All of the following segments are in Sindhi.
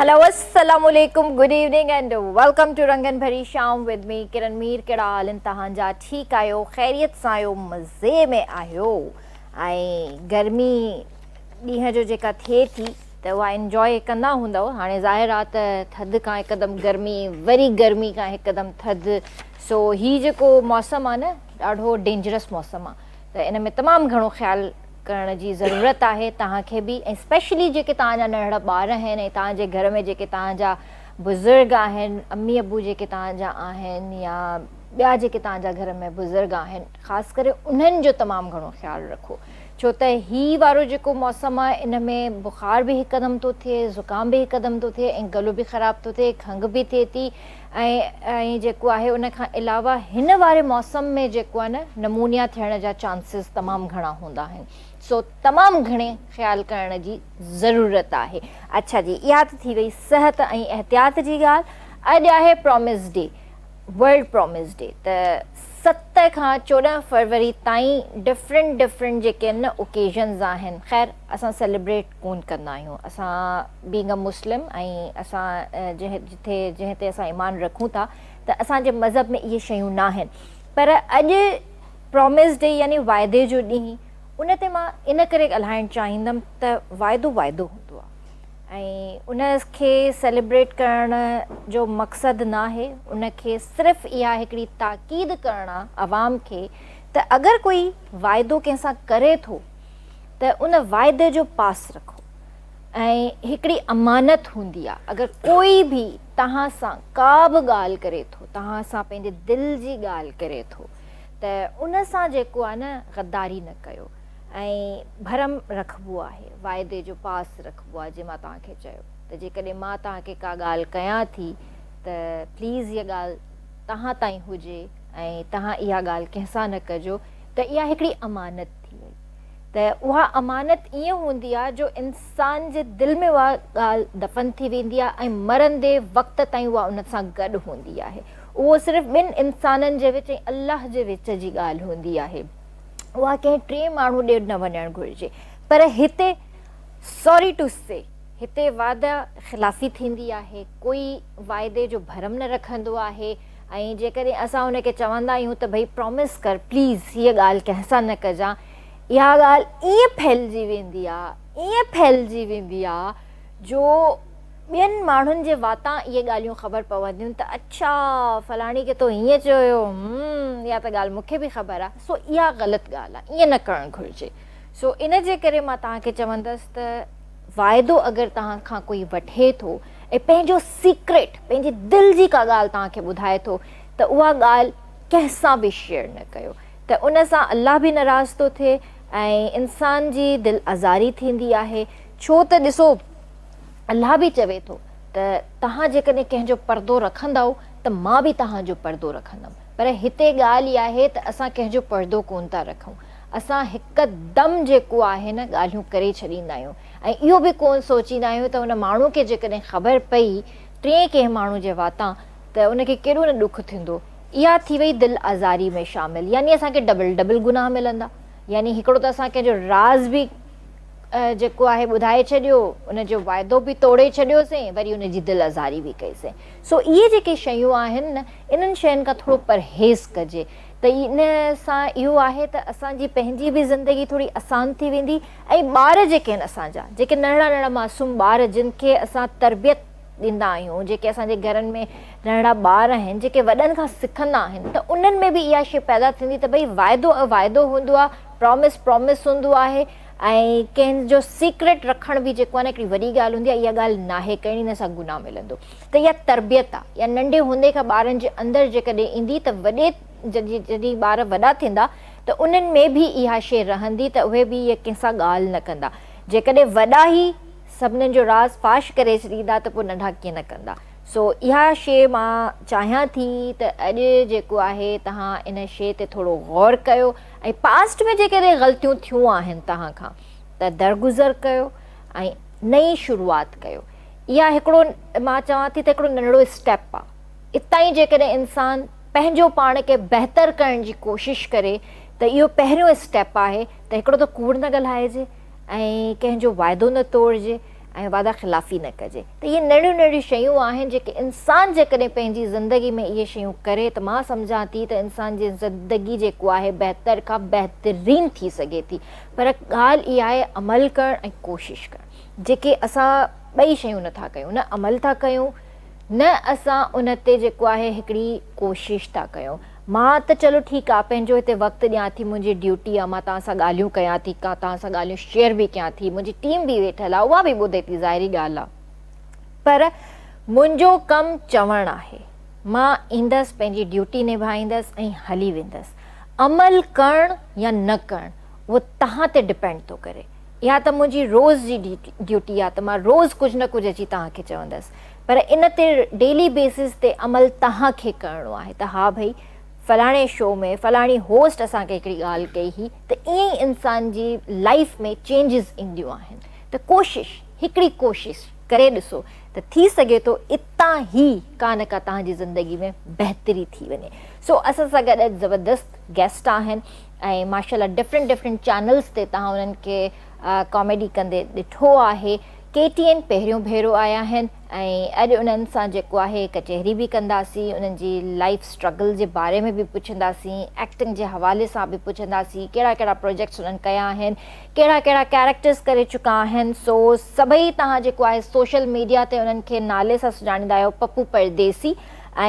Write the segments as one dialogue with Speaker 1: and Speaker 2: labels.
Speaker 1: هلو السلام عليڪم good evening and welcome to رنگن ڀري شام ود مي ڪرن مير ڪهڙا حال ان تهان جا ٺيڪ آهيو خيريت سان آهيو مزي ۾ آهيو ۽ گرمي ڏينهن جو جيڪا ٿئي ٿي ته اها انجواء ڪندا هوندؤ هاڻي ظاهر آ ته ٿڌ کان هڪدم گرمي وري گرمي کان هڪدم ٿڌ سو هي جيڪو موسم آ نه ڏاڍو ڊينجرس موسم آ ته ان ۾ تمام گهڻو خيال ڪرڻ جي ضرورت آهي توهان کي به ۽ اسپيشلي جيڪي توهان جا ننڙا ٻار آهن ۽ توهان جي گهر ۾ جيڪي توهان جا بزرگ آهن امي ابو جيڪي توهان جا آهن يا ٻيا جيڪي توهان جا گهر ۾ بزرگ آهن خاص ڪري انهن جو تمام گهڻو خيال رکو ڇو ته هي وارو جيڪو موسم آهي ان ۾ بخار به هڪدم ٿو ٿئي، زڪام به هڪدم ٿو ٿئي ۽ گلو به خراب ٿو ٿئي، کنگهه به ٿئي ٿي ۽ جيڪو آهي ان کان علاوه هن واري موسم ۾ جيڪو آهي نه نمونيا ٿيڻ جا چانسز تمام گهڻا هوندا آهن سو تمام گهڻي خيال ڪرڻ جي ضرورت آهي. اڇا جي اها ته ٿي وئي صحت ۽ احتياط جي ڳالهه اڄ آهي promise day. World promise day ته ست کان چوڏهن فروري تائين ڊفرنٽ ڊفرنٽ جيڪي ان اوڪيزنز آهن خير اسان سيلبريٽ ڪون ڪندا آهيون اسان بينگ ا مسلم ۽ اسان جتي جنهن تي اسان ايمان رکون ٿا ته اسان جي مذهب ۾ اهي شيون ناهن پر اڄ پرامس ڊي يعني واعدي جو ڏينهن ان تي مان ان ڪري ڳالهائڻ چاهيندم ته واعدو واعدو هوندو آهي ۽ ان کي سيليبريٽ ڪرڻ جو مقصد ناهي ان کي صرف اها هڪڙي تاڪيد ڪرڻ آ عوام کي ته اگر ڪوئي واعدو ڪنهن سان ڪري ٿو ته ان واعدي جو پاس رکو ۽ هڪڙي امانت هوندي آ اگر ڪوئي به توهان سان ڪا به ڳالهه ڪري ٿو توهان سان پنهنجي دل جي ڳالهه ڪري ٿو ته ان سان جيڪو آ نه غداري نه ڪيو. ۽ ڀرم رکبو آهي، واعدي جو پاس رکبو آهي، جيئن مان توهان کي چيو ته جيڪڏهن مان توهان کي ڪا ڳالهه ڪيان ٿي ته پليز اها ڳالهه توهان تائين هجي ۽ توهان اها ڳالهه ڪنهن سان نه ڪجو ته اها هڪڙي امانت ٿي وئي ته اها امانت ائين هوندي آهي جو انسان جي دل ۾ اها ڳالهه دفن ٿي ويندي آهي ۽ مرندي وقت تائين اها ان سان گڏ هوندي آهي اهو صرف ٻن انسانن جي وچ ۽ الله جي وچ جي ڳالهه هوندي آهي اها ڪنهن ٽئين ماڻهو ڏي نه وڃڻ گهرجي پر هتي سوري ٽو سي هتي وعده خلافي ٿيندي آهي ڪوئي واعدي جو ڀرم نه رکندو آهي ۽ جيڪڏهن اسان ان کي چوندا آهيون ته ڀئي پرومس ڪر پليز هيء ڳالهه ڪنهن سان نه ڪجان اها ڳالهه ائين ڦهلجي ويندي آهي ائين ڦهلجي ويندي آهي جو ٻين ماڻهن جي واتان اهي ڳالهيون خبر پونديون ته اڇا فلاڻي کي تو هيئن چيو هيو همم اها ته ڳالهه مون کي به خبر آهي سو اها غلط ڳالهه آهي ايئن نه ڪرڻ گهرجي سو ان جي ڪري مان توهان کي چوندس ته واعدو اگر توهان کان ڪوئي وٺي ٿو ۽ پنهنجو سيڪريٽ پنهنجي دل جي ڪا ڳالهه توهان کي ٻڌائي ٿو ته اها ڳالهه ڪنهن سان به شيئر نه ڪيو ته ان سان الله به ناراض ٿو ٿئي ۽ انسان جي دل آزاري ٿيندي آهي ڇو ته ڏسو، الله به چوي ٿو ته توهان جيڪڏهن ڪنهن جو پردو رکندؤ ته مان به توهان جو پردو رکندم. پر هتي ڳالهه اها آهي ته اسان ڪنهن جو پردو ڪونه ٿا رکون. اسان هڪدم جيڪو آهي نه ڳالهيون ڪري ڇڏيندا آهيون ۽ اهو به ڪونه سوچيندا آهيون ته ان ماڻهو کي جيڪڏهن خبر پئي ٽئين ڪنهن ماڻهو جي واتان ته ان کي ڪيڏو نه ڏک ٿيندو. اها ٿي وئي دل آزاري ۾ شامل يعني اسان کي ڊبل ڊبل گناهه ملندا يعني هڪڙو ته اسان ڪنهن جو راز به. جيڪو آهي ٻڌائي ڇڏيو، ان جو وعدو به توڙي ڇڏيوسين، وري ان جي دل آزاري به ڪئيسين. سو اهي جيڪي شيون آهن نه، انهن شين کان ٿورو پرهيز ڪجي ته ان سان اهو آهي ته اسان جي پنهنجي به زندگي ٿوري اسان ٿي ويندي ۽ ٻار جيڪي آهن اسان جا، جيڪي ننڍڙا ننڍڙا معصوم ٻار جن کي اسان تربيت ڏيندا آهيون، جيڪي اسان جي گهرن ۾ ننڍڙا ٻار آهن، جيڪي وڏن کان سکندا آهن ته انهن ۾ به اها شي پيدا ٿيندي ته ڀئي وعدو وعدو هوندو آهي، Promise Promise هوندو آهي، ۽ ڪنهن جو سيڪريٽ رکڻ به جيڪو آهي نه هڪڙي وڏي ڳالهه هوندي آهي اها ڳالهه ناهي ڪرڻي نه سان گناهه ملندو ته اها تربيت آهي يا ننڍي هوندي کان ٻارن جي اندر جيڪڏهن ايندي ته وڏي جڏهن جڏهن ٻار وڏا ٿيندا ته انهن ۾ به اها شيء رهندي ته اهي به اها ڪنهن سان ڳالهه نه ڪندا جيڪڏهن وڏا ئي سڀنن جو راز فاش ڪري ڇڏيندا ته پوء ننڍا ڪيئن نه ڪندا سو اها شيء مان چاهيان ٿي ته اڄ جيڪو آهي تهان ان شيء تي ٿورو غور ڪيو ۽ پاسٽ ۾ جيڪڏهن غلطيون ٿيون آهن توهان کان ته درگذر ڪيو ۽ نئين شروعات ڪيو اها هڪڙو مان چوان ٿي ته هڪڙو ننڍڙو اسٽيپ آ اتان ئي جيڪڏهن انسان پنهنجو پاڻ کي بهتر ڪرڻ جي ڪوشش ڪري ته اهو پهريون اسٽيپ آهي ته هڪڙو ته ڪوڙ نه ڳالهائجي ۽ ڪنهن جو وعدو نه توڙجي ۽ وعده خلافي نه ڪجي ته اهي ننڍيون ننڍيون شيون آهن جيڪي انسان جيڪڏهن پنهنجي زندگي ۾ اهي شيون ڪري ته مان سمجهان ٿي ته انسان جي زندگي جيڪو آهي بهتر کان بهترين ٿي سگهي ٿي پر ڳالهه اها آهي عمل ڪرڻ ۽ ڪوشش ڪرڻ جيڪي اسان ٻئي شيون نه ٿا ڪيون نه عمل ٿا ڪيون نه اسان ان تي جيڪو آهي هڪڙي ڪوشش ٿا ڪيون. مان ته چلو ٺيڪ آ پنهنجو هتي وقت ڏيان ٿي منهنجي ڊيوٽي آ مان توهان سان ڳالهيون ڪيان ٿي ڪا توهان سان ڳالهيون شيئر به ڪيان ٿي منهنجي ٽيم به ويٺل آ اها به ٻڌي ٿي ظاهري ڳالهه آ پر منهنجو ڪم چوڻ آهي مان ايندس پنهنجي ڊيوٽي نڀائيندس ۽ هلي ويندس عمل ڪرڻ يا نه ڪرڻ اهو توهان تي ڊپينڊ ٿو ڪري اها ته منهنجي روز جي ڊيوٽي آ ته مان روز ڪجهه نه ڪجهه اچي توهان کي چوندس پر ان تي ڊيلي بيسز تي عمل توهان کي ڪرڻو آهي ته ها ڀئي فلاڻي شو ۾ فلاڻي هوسٽ اسان کي هڪڙي ڳالهه ڪئي هئي ته ائين ئي انسان جي لائيف ۾ چينجز اينديون آهن ته ڪوشش هڪڙي ڪوشش ڪري ڏسو ته ٿي سگهي ٿو اتان ئي ڪا نه ڪا توهان جي زندگي ۾ بهتري ٿي وڃي سو اسان سان گڏ اڄ زبردست گيسٽ آهن ۽ ماشاءالله ڊفرنٽ ڊفرنٽ چينلز تي توهان انهن کي ڪاميڊي ڪندي ڏٺو آهي ڪي ٽي اين پهريون ڀيرو آيا آهن ۽ اڄ انهن سان جيڪو آهي ڪچهري به ڪنداسين، انهن جي لائيف اسٽرگل جي باري ۾ به پڇنداسين، ايڪٽنگ جي حوالي سان به پڇنداسين، ڪهڙا ڪهڙا پروجيڪٽس انهن ڪيا آهن، ڪهڙا ڪهڙا ڪيريڪٽرز ڪري چڪا آهن، سو سڀئي توهان جيڪو آهي سوشل ميڊيا تي انهن کي نالي سان سڃاڻيندا آهيو پپو پرديسي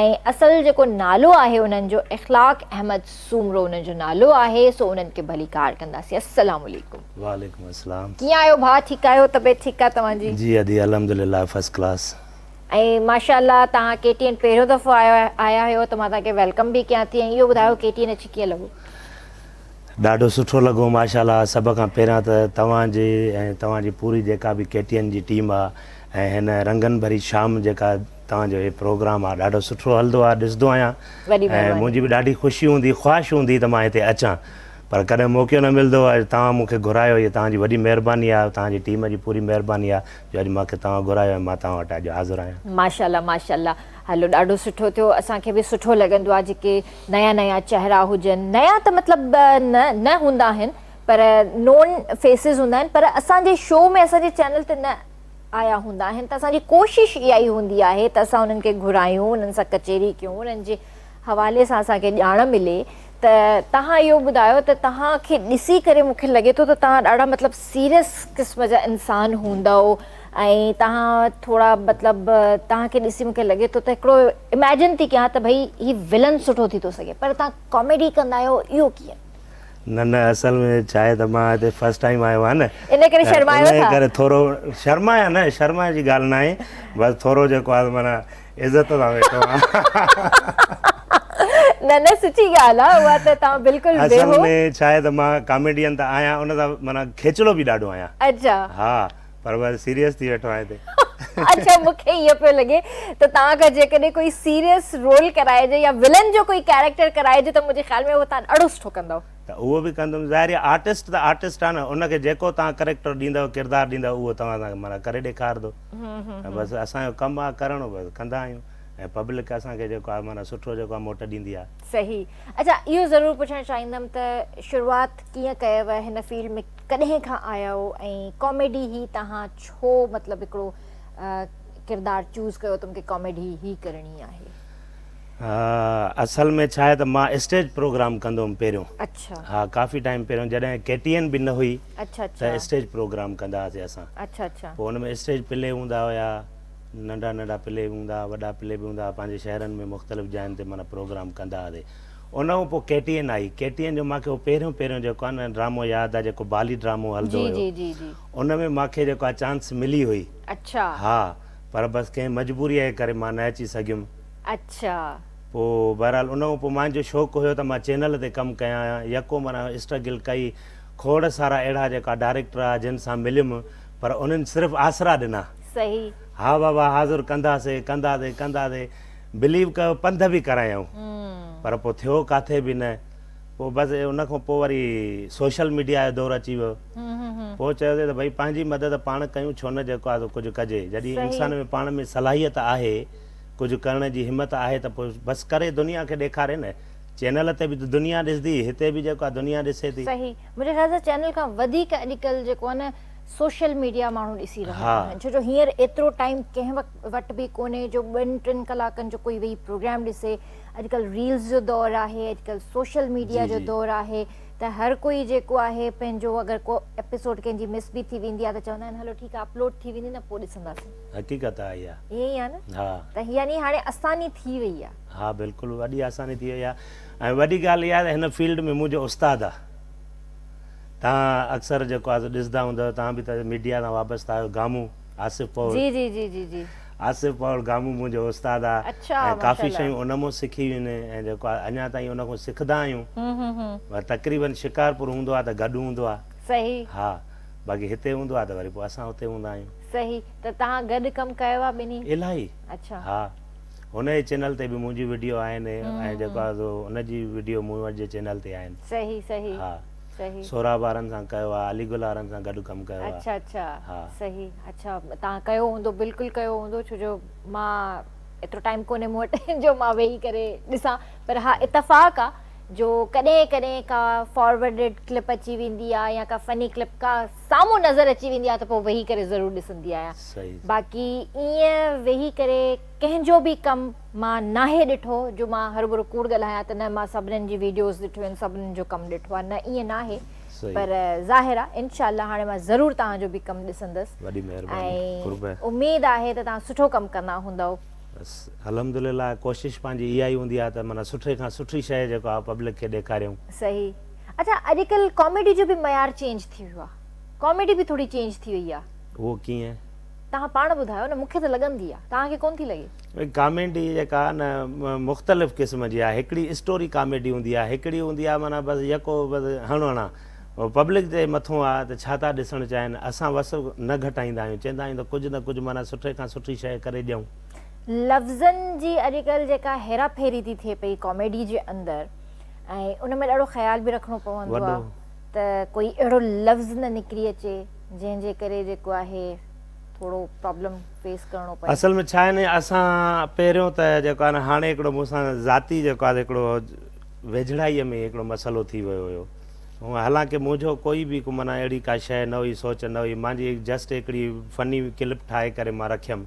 Speaker 1: ۽ اصل جيڪو نالو آهي انهن جو اخلاق احمد سومرو انهن جو نالو آهي سو انهن کي ڀليڪار ڪنداسين. السلام عليڪم. وعليڪم السلام.
Speaker 2: ڪيئن آهيو ڀاء ٺيڪ
Speaker 1: آهيو طبيعت ٺيڪ آهي توهان جي. جي ادي الحمدلله
Speaker 2: فرسٽ ڪلاس. ۽
Speaker 1: ماشاءالله توهان ڪي ٽي اين پهريون دفعو آيا آهيو ته مان توهان کي ويلڪم به ڪيان ٿي ۽ اهو ٻڌايو ڪي ٽي اين اچي ڪيئن لڳو.
Speaker 2: ڏاڍو سٺو لڳو ماشاءالله سڀ کان پهريان ته توهان جي ۽ توهان جي پوري جيڪا به ڪي ٽي اين جي ٽيم آ ۽ هن رنگن ڀري شام جيڪا توهان جو هي پروگرام آ ڏاڍو سٺو هلدو آ ڏسدو آهيان ۽ منهنجي به ڏاڍي خوشي هوندي خواهش هوندي ته مان هتي اچان. پر ڪڏهن موقعو نه ملندو اڄ توهان مون کي گهرايو هي توهان جي وڏي مهرباني آهي توهان جي ٽيم جي پوري مهرباني آهي جو اڄ مون کي توهان گهرايو ۽ مان توهان وٽ اڄ حاضر آهيان. ماشاءالله ماشاءالله
Speaker 1: هلو ڏاڍو سٺو ٿيو اسان کي به سٺو لڳندو آهي جيڪي نيا نيا چهرا هجن نيا ته مطلب نه نه هوندا آهن پر نون فيسز هوندا آهن پر اسان جي شو ۾ اسان جي چينل تي نه آيا هوندا آهن ته اسان جي ڪوشش اها ئي هوندي آهي ته اسان انهن کي گهرايون انهن سان ڪچهري ڪيون انهن جي حوالي سان اسان کي ڄاڻ ملي ته توهان اهو ٻڌايو ته توهان کي ڏسي ڪري مون کي لڳي ٿو ته توهان ڏاڍا مطلب سيريس قسم جا انسان هوندؤ ۽ توهان ٿورا مطلب توهان کي ڏسي مون کي لڳي ٿو ته هڪڙو اميجن ٿي ڪيان ته ڀئي هي ولن سٺو ٿي ٿو سگهي پر توهان ڪاميڊي ڪندا آهيو اهو ڪيئن؟ نه نه
Speaker 2: اصل ۾ ڇا آهي ته مان هتي فرسٽ ٽائيم آيو آهيان نه ان ڪري شرمايو ٿا؟ ان
Speaker 1: ڪري ٿورو
Speaker 2: شرمايان نه شرمائڻ جي ڳالهه نه آهي بس ٿورو جيڪو آهي معنيٰ عزت سان ويٺو آهيان
Speaker 1: نه نه سچي ڳالهه آهي اها ته توهان بلڪل بيهو اصل ۾ ڇا آهي
Speaker 2: ته مان ڪاميڊين ته آهيان ان سان معنيٰ کيچلو به ڏاڍو آهيان اچا ها
Speaker 1: پر
Speaker 2: وري سيريس ٿي ويٺو آهيان هتي اچا مون کي
Speaker 1: اهو پيو لڳي ته توهان کان جيڪڏهن ڪوئي سيريس رول ڪرائجي يا ولن جو ڪوئي ڪيريڪٽر ڪرائجي ته منهنجي خيال ۾ توهان ڏاڍو سٺو ڪندو ته اهو به ڪندم
Speaker 2: ظاهر آهي آرٽسٽ ته آرٽسٽ آهي نه ان کي جيڪو توهان ڪيريڪٽر ڏيندو ڪردار ڏيندو اهو توهان سان معنيٰ ڪري ڏيکارندو ۽ بس اسان جو ڪم آ ڪرڻ بس ڪندا آهيون ۽ پبلڪ اسان کي جيڪو آ معنيٰ سٺو جيڪو آ موٽ ڏيندي آ. صحيح اچا
Speaker 1: اهو ضرور پڇڻ چاهيندم ته شروعات ڪيئن ڪيو هن فيلڊ ۾ ڪڏهن کان آيا آهيو ۽ ڪاميڊي هي تهان ڇو مطلب هڪڙو ڪردار چوز ڪيو تم کي ڪاميڊي هي ڪرڻي آهي. اصل
Speaker 2: ۾ ڇا آهي ته مان اسٽيج پروگرام ڪندو هئم پهريون ها ڪافي
Speaker 1: ٽائيم پهريون
Speaker 2: جڏهن ڪي ٽي اين به نه هئي ته اسٽيج
Speaker 1: پروگرام
Speaker 2: ڪندا هئاسي اسان پوء ان ۾
Speaker 1: اسٽيج پلي
Speaker 2: هوندا هيا ننڍا ننڍا پلي به هوندا هئا وڏا پلي به هوندا هئا پنهنجي شهرن ۾ مختلف جاين تي معنيٰ پروگرام ڪندا هئاسي ان کان پوء ڪي ٽي اين آئي ڪي ٽي اين جو مانکي هو پهريون پهريون جيڪو آهي نه ڊرامو ياد آهي جيڪو بالي ڊرامو هلندو هيو ان ۾ مانکي جيڪو آهي چانس ملي هئي ها
Speaker 1: پر
Speaker 2: بس ڪنهن مجبوريء جي ڪري مان نه اچي سگهيم. اڇا.
Speaker 1: پوء
Speaker 2: بهرحال ان کان پوء مانجو شوق هيو ته مان چينل تي ڪم ڪيان. يڪو معنيٰ اسٽرگل ڪئي. کوڙ سارا اهڙا جيڪا ڊائريڪٽر آ جن سان مليم پر انهن صرف آسرا ڏنا.
Speaker 1: صحيح. ها بابا
Speaker 2: حاضر ڪنداسي ڪنداسي ڪنداسي بليو ڪيو پنڌ به ڪرايائون پر پوء ٿيو ڪاٿي به نه. پوء بس ان کان پوء وري سوشل ميڊيا جو دور اچي ويو پوء چيوسين ته ڀئي پنهنجي مدد پاڻ ڪيون ڇو نه جيڪو آهي سو ڪجهه ڪجي جڏهن انسان ۾ پاڻ ۾ صلاحيت آهي ڪجهه ڪرڻ جي همت آهي ته پوء بس ڪري دنيا کي ڏيکاري نه چينل تي به ته دنيا ڏسندي هتي به جيڪو آهي دنيا ڏسي ٿي. صحيح منهنجي خيال سان چينل
Speaker 1: کان وڌيڪ اڄڪلهه جيڪو آهي نه سوشل ميڊيا ماڻهو ڏسي رهيا آهن ڇو جو هينئر ايترو ٽائيم ڪنهن وٽ به ڪونهي جو ٻن ٽن ڪلاڪن جو ڪوئي ويهي پروگرام ڏسي اڄڪلهه ريلز جو دور آهي اڄڪلهه سوشل ميڊيا جو دور آهي ته هر ڪوئي جيڪو آهي پنهنجو اگر ڪو ايپيسوڊ ڪنهن جي مس به ٿي ويندي آهي ته چوندا آهن هلو ٺيڪ آهي اپلوڊ ٿي ويندي نه پوء ڏسنداسين حقيقت آهي اها ائين ئي آهي
Speaker 2: نه ها
Speaker 1: ته يعني هاڻي آساني ٿي وئي آهي ها بلڪل وڏي
Speaker 2: آساني ٿي وئي آهي ۽ وڏي ڳالهه اها آهي ته هن فيلڊ ۾ منهنجو استاد آهي تان اڪثر جيڪو آهي سو ڏسندا هوندؤ تان به ته ميڊيا سان وابسته آهيو گامون آصف پور جي جي جي جي جي
Speaker 1: آصف پاول گامو
Speaker 2: منهنجو استاد آ اڇا ۽ ڪافي ماشاءالله. شيون ان مون سکي هيون ۽ جيڪو آ اڃا تائين ان کون سکدا آهيون هون هون هون. ور تقريبن شڪارپور هوندو آ ته گڏ هوندو آ صحيح. ها باقي هتي هوندو آ ته وري پوء اسان هتي هوندا آهيون. صحيح ته تهان
Speaker 1: گڏ ڪم ڪيو آ ٻنهي. الاهي اڇا.
Speaker 2: ها هن جي چينل تي به منهنجيون وڊيو آهن ۽ جيڪو آ سو ان جي وڊيو مون وٽ جي چينل تي آهن. صحيح صحيح. ها.
Speaker 1: صحيح.
Speaker 2: سهراب
Speaker 1: وارن سان ڪيو
Speaker 2: آ علي گل وارن سان گڏ ڪم ڪيو آ. اڇا اڇا ها.
Speaker 1: صحيح
Speaker 2: اڇا
Speaker 1: تان ڪيو هوندو بلڪل ڪيو هوندو ڇو جو مان ايترو ٽائيم ڪونهي مون وٽ جو مان ويهي ڪري ڏسان پر ها اتفاق آ جو ڪڏهن ڪڏهن ڪا فاروڊڊ ڪلپ اچي ويندي آ يا ڪا فني ڪلپ ڪا سامهون نظر اچي ويندي آ ته پو ويهي ڪري ضرور ڏسندي آهيان صحيح. باقي ايئن ويهي ڪري ڪنهن جو به ڪم. مان ناهي ڏٺو جو مان هربھرو ڪوڙ ڳالهايان ته نه مان سڀنن جي ويڊيوز ڏٺيون آهن سڀنن جو ڪم ڏٺو آهي نه ائين ناهي پر ظاهر آهي انشاء الله هاڻي مان ضرور توهان جو به ڪم ڏسندس ۽ اميد آهي ته توهان سٺو ڪم ڪندا هوندؤ. بس
Speaker 2: الحمدلله ڪوشش پنهنجي اها ئي هوندي آهي ته معنيٰ سٺي کان سٺي شيء جيڪو آهي پبلڪ کي ڏيکاريون. صحيح
Speaker 1: اڇا اڄڪلھ ڪاميڊي جو به معيار چينج ٿي ويو آهي ڪاميڊي به ٿوري چينج ٿي وئي آهي. اهو ڪيئن؟
Speaker 2: توهان پاڻ
Speaker 1: ٻڌايو نه مون کي ته لڳندي آ توهان کي ڪون ٿي لڳي. ڪاميڊي
Speaker 2: جيڪا آ نه مختلف قسم جي آ هڪڙي اسٽوري ڪاميڊي هوندي آ هڪڙي هوندي آ معنيٰ بس يڪو بس هڻ هڻا هو پبلڪ جي مٿون آ ته ڇا ٿا ڏسڻ چاهين اسان وس نه گهٽائيندا آهيون چيندا آهيون ته ڪجهه نه ڪجهه معنيٰ سٺي کان سٺي شئي ڪري ڏيون. لفظن
Speaker 1: جي اڄڪلهه جيڪا هيرا ڦيري ٿي ٿئي پئي ڪاميڊي جي اندر ۽ ان ۾ ڏاڍو خيال به رکڻو پوندو آ ته ڪوئي اهڙو لفظ نه نڪري اچي. جنهن جي ڪري جيڪو آهي ٿورو پرابلم فيس ڪرڻو پئي. اصل ۾ ڇا آهي نه اسان
Speaker 2: پهريون ته جيڪو آهي نه هاڻي هڪڙو مون سان ذاتي جيڪو آهي هڪڙو ويجهڙائي ۾ هڪڙو مسئلو ٿي ويو هيو هونء حالانڪه منهنجو ڪوئي به ڪو معنيٰ اهڙي ڪا شئي نه هئي سوچ نه هئي مانجي جسٽ هڪڙي فني ڪلپ ٺاهي ڪري مان رکيم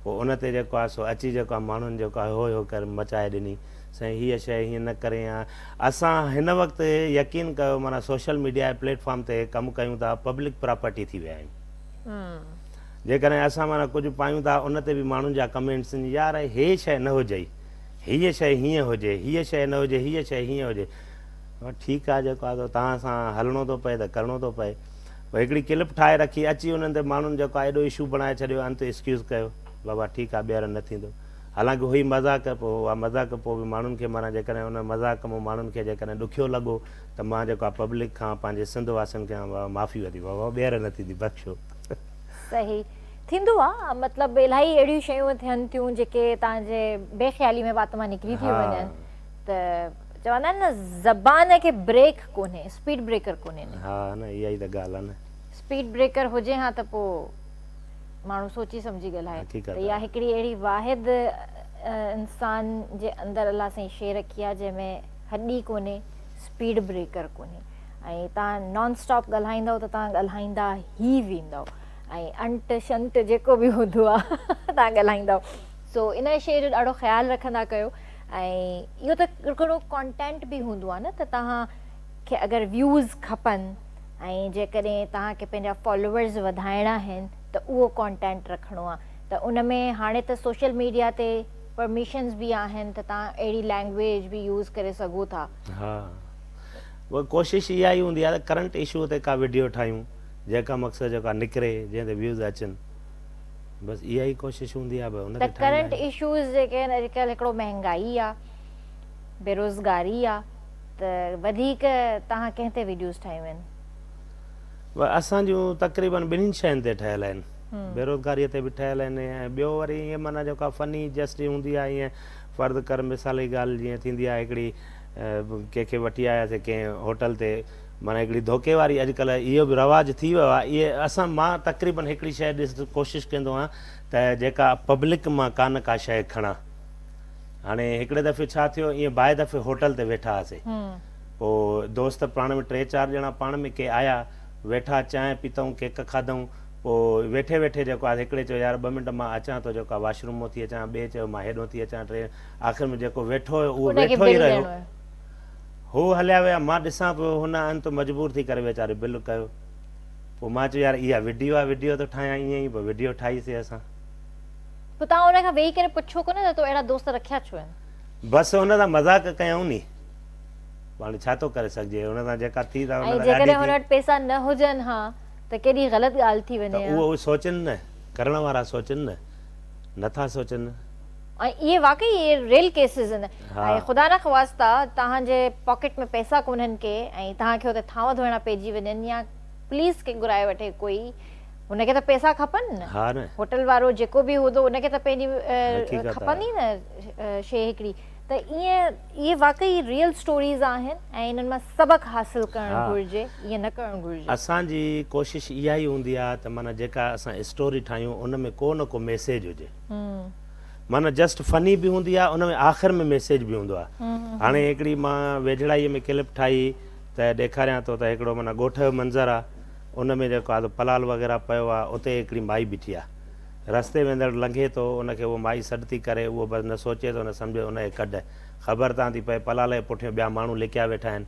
Speaker 2: پوء ان تي جيڪو آهي سو اچي جيڪو آهي ماڻهن جيڪو آهي هو هو ڪري مچائي ڏني سائين هيء شيء هيئن نه ڪرين ها. اسان هن وقت يقين ڪيو معنيٰ سوشل ميڊيا جي پليٽ فارم تي ڪم ڪيون ٿا پبلڪ پراپرٽي ٿي ويا آهيون. جيڪڏهن اسان معنيٰ ڪجهه پايون ٿا ان تي به ماڻهن جا ڪمينٽس اينديون يار هيء شيء نه هجئي هيء شيء هيئن هجي هيء شيء نه هجي هيء شيء هيئن هجي معنيٰ ٺيڪ آهي جيڪو آهي سو توهان سان هلڻو ٿو پئي ته ڪرڻو ٿو پئي پوء هڪڙي ڪلپ ٺاهي رکي اچي انهن تي ماڻهن جيڪو آهي ايڏو اشو بڻائي ڇڏيو انت ايڪسڪيوز ڪيو بابا ٺيڪ آهي ٻيهر نه ٿيندو. حالانڪ هئي مذاق پوء اها مذاق پوء به ماڻهن کي ماران جيڪڏهن ان مذاق مون ماڻهن کي جيڪڏهن ڏکيو لڳو ته مان جيڪو آ پبلڪ کان پنهنجي سنڌ واسين کان معافي ويندي واهه واهه ٻيهر نه ٿيندي بخشو. صحيح
Speaker 1: ٿيندو آ مطلب الائي اهڙيون شيون ٿين ٿيون جيڪي توهان جي بي خيالي ۾ وات مان نڪري ٿيون وڃن ته چوندا آهن نه زبان کي بريڪ ڪونهي اسپيڊ بريڪر ڪونهي نه ها نه اها ئي ته
Speaker 2: ڳالهه آ نه اسپيڊ بريڪر
Speaker 1: هجي ها ته پوء ماڻهو سوچي سمجهي ڳالهائي ته اها هڪڙي اهڙي واحد انسان جي اندر الله سائين شي رکي آهي جنهن ۾ هڏي ڪونهي اسپيڊ بريڪر ڪونهي ۽ تان نان اسٽاپ ڳالهائيندو ته تان ڳالهائيندا هي ويندو ۽ انٽ شنٽ جيڪو به هوندو آهي تان ڳالهائيندا سو ان شي جو ڏاڍو خيال رکندا ڪيو ۽ اهو ته هڪڙو ڪانٽينٽ به هوندو آهي نه ته تان کي اگر ويوز کپن ۽ جيڪڏهن توهان کي پنهنجا فالوورز وڌائڻا آهن ته اهو ڪانٽينٽ رکڻو آهي ته ان ۾ هاڻي ته سوشل ميڊيا تي پرميشنز به آهن ته توهان اهڙي لينگويج به يوز ڪري سگهو ٿا. ها
Speaker 2: وئي ڪوشش اها ئي هوندي آهي ته ڪرنٽ اشوء تي ڪا وڊيو ٺاهيون جنهن کان مقصد جيڪا نڪري جنهن تي ويوز اچن بس اها ئي ڪوشش هوندي آهي ان تي ٺاهيندا آهيون. ته ڪرنٽ اشوز
Speaker 1: جيڪي آهن اڄ ڪلهه هڪڙو مهنگائي آهي بيروزگاري آهي. ته وڌيڪ توهان ڪنهن تي
Speaker 2: ويڊيوز
Speaker 1: ٺاهيون
Speaker 2: آهن؟ اسان
Speaker 1: جون
Speaker 2: تقريبن
Speaker 1: ٻنهين
Speaker 2: شين تي
Speaker 1: ٺهيل
Speaker 2: آهن بيروزگاري تي به ٺهيل آهن ۽ ٻيو وري ائين معنيٰ جيڪا فني جسٽ جي هوندي آهي ائين فرض ڪر مثال جي ڳالهه جيئن ٿيندي آهي هڪڙي ڪنهن کي وٺي آياسي ڪنهن هوٽل تي معنيٰ هڪڙي ڌوڪي واري اڄڪلهه اهو به رواج ٿي ويو آهي اهي اسان مان تقريبن هڪڙي شيء ڏس ڪوشش ڪندو آهيان ته جيڪا پبلڪ مان ڪانه ڪا شيء کڻان هاڻي هڪڙي دفعي ڇا ٿيو ائين بائي دفعي هوٽل تي ويٺا هئاسي پوء دوست پاڻ ۾ ٽي چار ڄڻا پاڻ ۾ ڪي آيا ويٺا چانهه پيتئون ڪيڪ کاڌئون پوء ويٺي ويٺي جيڪو آ هڪڙي چيو يار ٻه منٽ مان اچان ٿو جيڪو آ واش روم مون ٿي اچان ٻئي چيو مان هيڏهون ٿي اچان ٽئين آخر ۾ جيڪو ويٺو هيو اهو ويٺو ئي رهيو هو هليا ويا مان ڏسان پيو هن انت مجبور ٿي ڪري ويچاري بل ڪيو پوء مان چيو يار اها وڊيو آ وڊيو ٿو ٺاهيان ائين ئي پوء وڊيو ٺاهيسي اسان. پوء
Speaker 1: توهان ان کان ويهي ڪري پڇو ڪونه ته تو اهڙا دوست رکيا ڇو آهن؟ بس ان سان
Speaker 2: مذاق ڪيائون ني. پاڻ ڇا ٿو ڪري سگهجي. ان سان جيڪا ٿي سا ان ۽ سان جيڪڏهن ڏاڍي هن ٿي. وٽ پئسا
Speaker 1: نه هجن ها ته ڪيڏي غلط ڳالهه ٿي ته وڃي ها. اهو اهو سوچن نه.
Speaker 2: ڪرڻ وارا سوچن نه. نه ٿا سوچن. ۽ اهي
Speaker 1: واقعي اهي ريل ڪيسز آهن. ها. ۽ خدا نه خواسته توهان جي پاڪيٽ ۾ پئسا ڪونهن ڪي ۽ توهان کي اتي ٿانو ڌوئڻا پئجي وڃن يا پوليس کي گهرائي وٺي ڪوئي. هن کي ته پئسا کپن نه هوٽل وارو جيڪو به هوندو ان کي ته پنهنجي کپندي نه شي هڪڙي ته ائين اهي واقعي ريل اسٽوريز آهن ۽ انهن مان سبق حاصل ڪرڻ گهرجي ائين نه ڪرڻ گهرجي اسان جي ڪوشش اها ئي هوندي آهي ته معنيٰ جيڪا اسان اسٽوري ٺاهيون ان ۾ ڪو نه ڪو ميسيج هجي معنيٰ جسٽ فني به هوندي آهي ان ۾ آخر ۾ ميسيج به هوندو آهي هاڻي هڪڙي مان ويجهڙائيء ۾ ڪلپ ٺاهي ته ڏيکاريان ٿو ته هڪڙو معنيٰ ڳوٺ جو منظر آهي ان ۾ جيڪو آڌو پلال وغيره پيو آ، اتي هڪڙي مائي بيٺي آ. رستي ويندڙ لنگهي ٿو، ان کي اهو مائي سڏ ٿي ڪري، اهو بس نه سوچي ٿو نه سمجهي ان کي ڪڍ. خبر تان ٿي پئي، پلال جي پٺيون ٻيا ماڻهو لڪيا ويٺا آهن.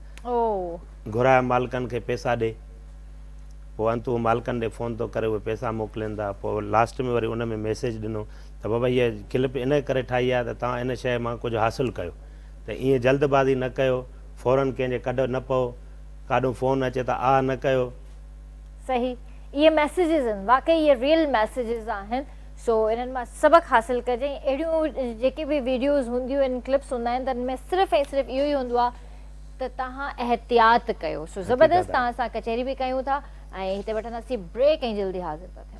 Speaker 1: گهراء مالڪن کي پئسا ڏي. پوء انت هو مالڪن ڏي فون ٿو ڪري، اهي پئسا موڪلين ٿا. پوء لاسٽ ۾ وري ان ۾ ميسيج ڏنو ته بابا هيء ڪلپ ان ڪري ٺاهي آ ته توهان ان شيء مان ڪجهه حاصل ڪيو. ته ايئن جلد بازي نه ڪيو، فوراً ڪنهن جي ڪڍ نه پئو. ڪاڏهون فون اچي ته آھ نه ڪيو. صحيح اهي ميسيجز ان واقعي اهي ريئل ميسيجز آهن سو انهن مان سبق حاصل ڪجي ۽ اهڙيون جيڪي به ويڊيوز هونديون ان ڪلپس هوندا آهن تن ۾ صرف ۽ صرف اهو ئي هوندو آهي ته تهان احتياط ڪيو سو زبردست تهان سان ڪچهري به ڪيون ٿا ۽ هتي وٺنداسين بريڪ ۽ جلدي حاضر ٿا ٿيون.